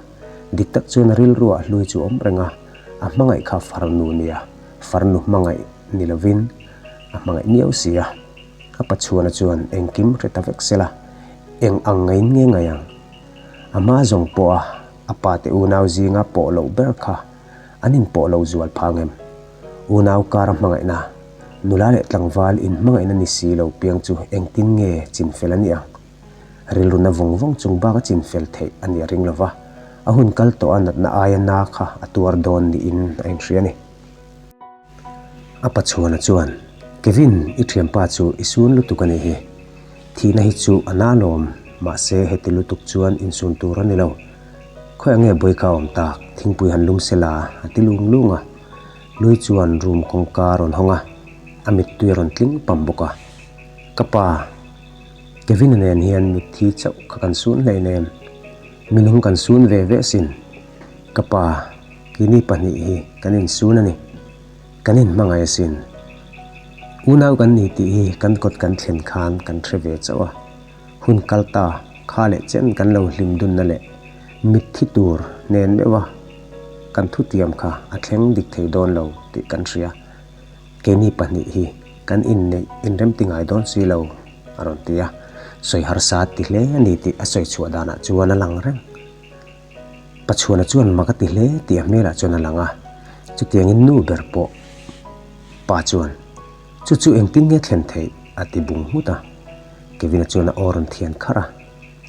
dik tak chuan a rilru ah hlui chu awm reng a, a hmangaih kha farnu nia, farnu hmangaih ni lovin a hmangaih miau si a, a pachuana chuan engkim hre ta vek sela, eng ang ngeiin nge ngaih ang? A hma zawng pawha a pa te unau zinga pawh loh ber kha an in pawh lo zual phang em? Unau kara hmangaihna, nula leh tlangval in hmangaihna ni si lo piang chu engtin nge chin fel a nih ang? rilruna vawng vawng chung bak a chin fel theih a ni a ring lo va, a hun kal tawh a natna aia na kha a tuar dawn niin a inhria a ni. A pachuana chuan, Kevin, i thianpa chu i sun lutuk a nih hi, thihna hi chu a na lawm, mahse heti lutuk chuan insun tur a ni lo, khawiah nge bawi kha a awm tak, thingpui han lum se la, a ti lung lung a, Lui chuan room kawngka a rawn hawng a, a mittui a rawn tling pam bawk a, Ka pa, Kevina nen hian mitthi chauh kha kan sun hlei lem, minung kan sun ve ve sin, ka pa Kini pahnih hi kan insun a ni, kan inhmangaih sin, unau kan ni tih hi kan kawt kan thlen khan kan hre ve chauh a, hun kal ta kha leh chen kan lo hlim dunna leh mitthi tur nen meuh a, kan thutiam kha a thleng dik thei dawn lo tih kan hria. Keini pahnih hi kan inneih inrem ti ngai dawn si lo, a rawn ti a. Sawi harsa ti hle a ni tih a sawi chhuah danah chuan a lang reng. Pachhuana chuan mak a ti hle tih a hmelah chuan a lang a. Chutiangin nu ber pawh pa chuan chu chu engtin nge thlen theih a ti bung nghut a. Kevina chuan a aw rawn thian kharh a.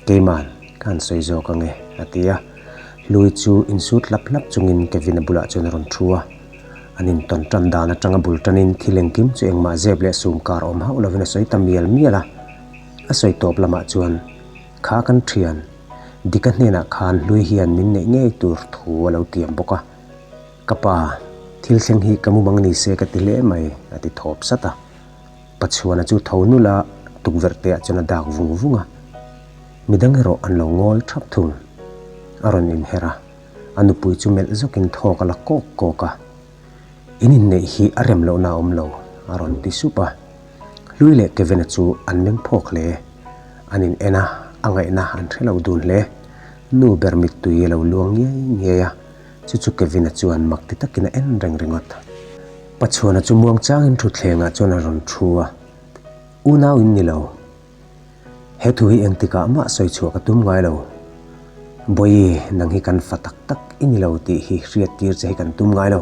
Keiman ka han sawi zawk ang e, a ti a. Hlui chu insut hlap hlap chungin Kevin a bulah chuan a rawn thu a. An intawn tan dan atang a bul tanin thil engkim chu engmah zep leh sum kar awm hauh lovin a sawi ta mial mial a. A sawi tawp lamah chuan, Kha kan thian. Dicka hnenah khan Hlui hian min neih ngei tur thu a lo tiam bawk a. Ka pa, thil thleng hi ka mu mang ni se ka ti hle mai, a ti thawp sat a. Pachuana chu tho nul a, tukverh te ah chuan a dak vung vung a. Midang erawh an lo ngawl thap thung. A rawn inher a, a nupui chu melh zawk in thawk a la kawk kawk a. In inneih hi a rem lohna a awm lo, a rawn ti sup a. Hlui leh Kevin-a chu an meng phawk hle. An in en a, a ngaihna an hre lo dun hle. Nu ber mittui a lo luang ngiai ngiai a. Chu chu Kevina chuan mak ti takin a en reng ringawt. Pachhuana chu muang changin thutthlengah chuan a rawn thu a, Unau in ni lo. He thu hi engtikah mah sawi chhuah ka tum ngai lo. Bawihi nang hi kan fa tak tak i ni lo tih hi hriattir che hi kan tum ngai lo.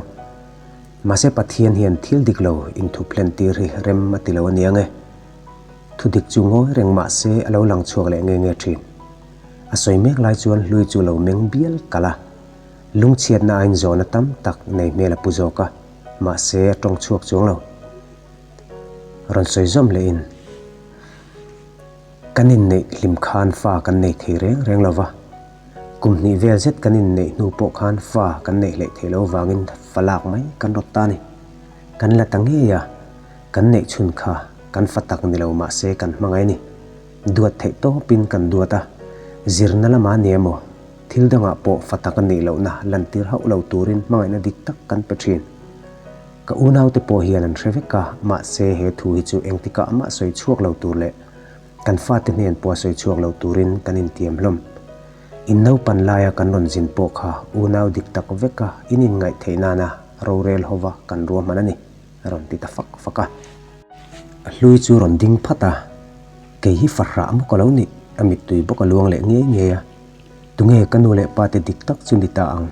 Mahse Pathian hian thil dik lo inthuphlen tir hi rem a ti lo a nia nge. Thudik chu ngawi reng mahse a lo lang chhuak leh nge nge thin. A sawi mek lai chuan hlui chu lo meng bial kal a, lungchhiatna a inzawna tam tak nei hmel a pu zawk a, mahse a tawng chhuak chuang lo. Rawn sawi zawm leh in kan inneih hlim khan fa kan nei thei reng reng lo va, kum hnih vel zet kan inneih hnu pawh khan fa kan neih hleh theih lo vangin fa lak mai kan rawt ta a ni. Kan la ta ngei a, kan neih chhun kha kan fa tak ni lo mahse kan hmangaih a ni. Duat theih tawpin kan duat a, zirna lama nia emaw, thil dangah pawh fa taka neih lohna lantir hauh lo turin hmangaihna dik tak kan pe thin. Ka unaute pawh hian an hre vek a, mahse he thu hi chu engtikah amah sawi chhuak lo tur leh kan fate hnen pawha sawi chhuak lo turin kan intiam hlawm. In naupan laia kan rawn zin pawh kha unau dik tak veka in inngaih theih nana rorel hova kan ruahman a ni. A rawn ti ta fak fak a. A hlui chu rawn ding phat a, kei hi fahrah a muka lo nih, a mittui bawk a luang leh ngei ngei a. Tunge ka nu leh pa te dik tak chu ni ta ang?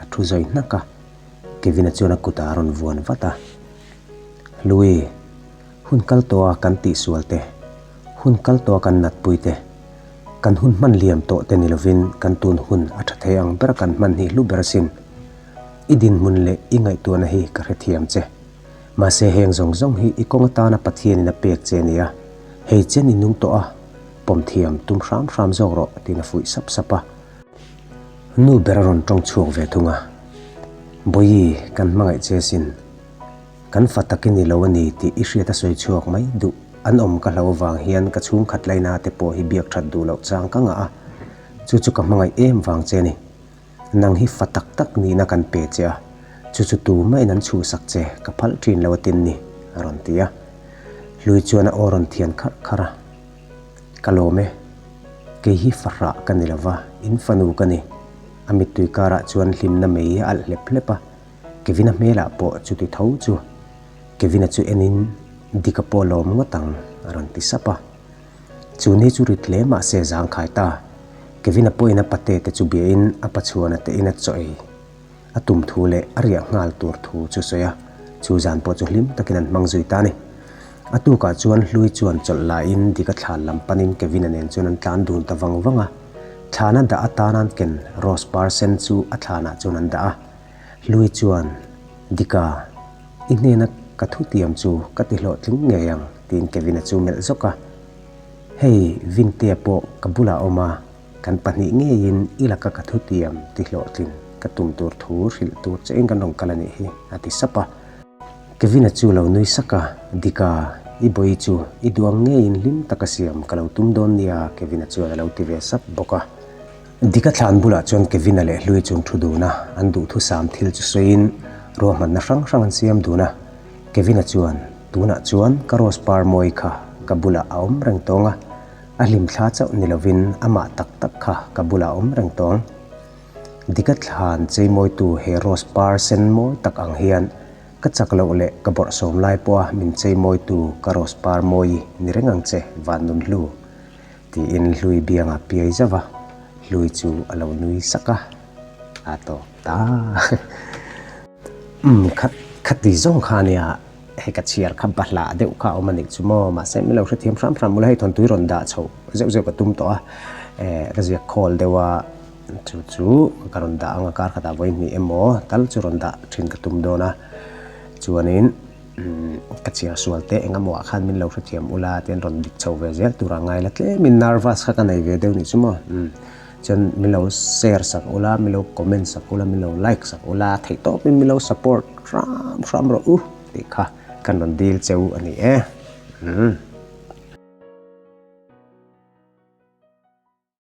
A thu zawih hnak a. Kevin-a chuan a kutah a rawn vuan vat a. Hlui, hun kal tawh a kan tih sual te, hun kal tawh a kan nat pui te, kan hun hman liam tawh te ni lovin kan tun hun a tha thei ang ber a kan hman hnih hlu ber sin. I dinhmun leh i ngaihtuahna hi ka hrethiam che. Mahse heng zawng zawng hi i kawng atana Pathianin a pek che nia, hei chian i nung tawh a, pawm thiam tum hram hram zawk rawh, tiin a fuih sap sap a. Nu ber a rawn tawng chhuak ve thung a, Bawihi kan hmangaih che sin, kan fa tak i ni lo a ni tih i hriat a sawi chhuak mai duh, an awm ka hlo avang hian ka chhungkhat lainate pawh hi biak that duh loh chang ka ngah a, chu chu ka hmangaih em vang che a ni. Nang hi fa tak tak nihna kan pe che a, chu chu tu maiin an chhuhsak che ka phalh thin lo a tin ni, a rawn ti a. Hlui chuan a aw rawn thian kharh kharh a, Ka lawm e, kei hi fa hrah ka ni lo va, in fanu ka ni. A mittui karah chuan hlimna mei a alh hlep hlep a, Kevina hmelah pawh chuti tho chu. Kevina chu enin dik a pawh lawm ngawt ang, a rawn ti sap a. Chu ni chu rit hle mahse zangkhai ta Kevin a pawina pate te chu biain a pachuan a tehin a chawi a tum thu leh a riah nghal tur thu chu sawi a, chu zan pawh chu hlim takin an hmang zui ta a ni. A tukah chuan hlui chuan chawlh lahin dik a thlan lam panin Kevin a nen chuan an tlan dun ta vang vang a. Thlan a dah atan an ken Rose par sen chu a thlanah chuan an dah a, Hlui chuan, Dika, i hnena ka thu tiam chu ka ti hlawh tling ngei ang, tiin Kevina chu melh zawk a. Hei, Vintea pawh ka bulah awm a, kan pahnih ngeiin i laka ka thu tiam ti hlawh tlin ka tum tur thu hrilh tur che in kan rawn kal a nih hi, a ti sap a. Kevina chu lo nui sak a, Dika, i bawi chu i duang ngeiin hlim taka siam ka lo tum dawn nia, Kevina chuan a lo ti ve sap bawk a. Dika thlan bulah chuan Kevina leh Hlui chung thu duna an duhthusam thil chu sawiin ruahmanna hrang hrang an siam dun a. Kevina chuan, Tunah chuan ka Rose par mawi kha ka bulah a awm reng tawng a, a hlim thla chauh ni lovin amah tak tak kha ka bulah a awm reng tawng. Dika thlan cheimawitu he Rose par sen mawi tak ang hian ka chak loh leh ka bawrhsawm lai pawha min cheimawitu ka Rose par mawi ni reng ang che, Vannunhlu. Tiin hlui bianga piai zauh a, hlui chu a lo nui sak a, a tawk ta. Umm, kha khatih zawng kha ania, hei ka chhiar kha ba hlah deuh kha a awm a nih chu maw, mahse min lo hrethiam hram hram ula hei thawntui rawn dah chho zeuh zeuh ka tum tawh a, eh ka ziak khawl deuh a, chu chu ka rawn dah ang a, kar khatah vawi hnih emaw tal chu rawn dah thin ka tum dawn a, chuanin. Ka chhiar sual teh eng amawha khan min lo hrethiam ula tin rawn dik chho ve zel tura ngai la tlemin nervous kha ka nei ve deuh nih chu maw chuan min lo share sak ula min lo comment sak ula min lo like sak ula theih tawpin min lo support hram hram rawh u tih kha kan rawn dil che u a ni e.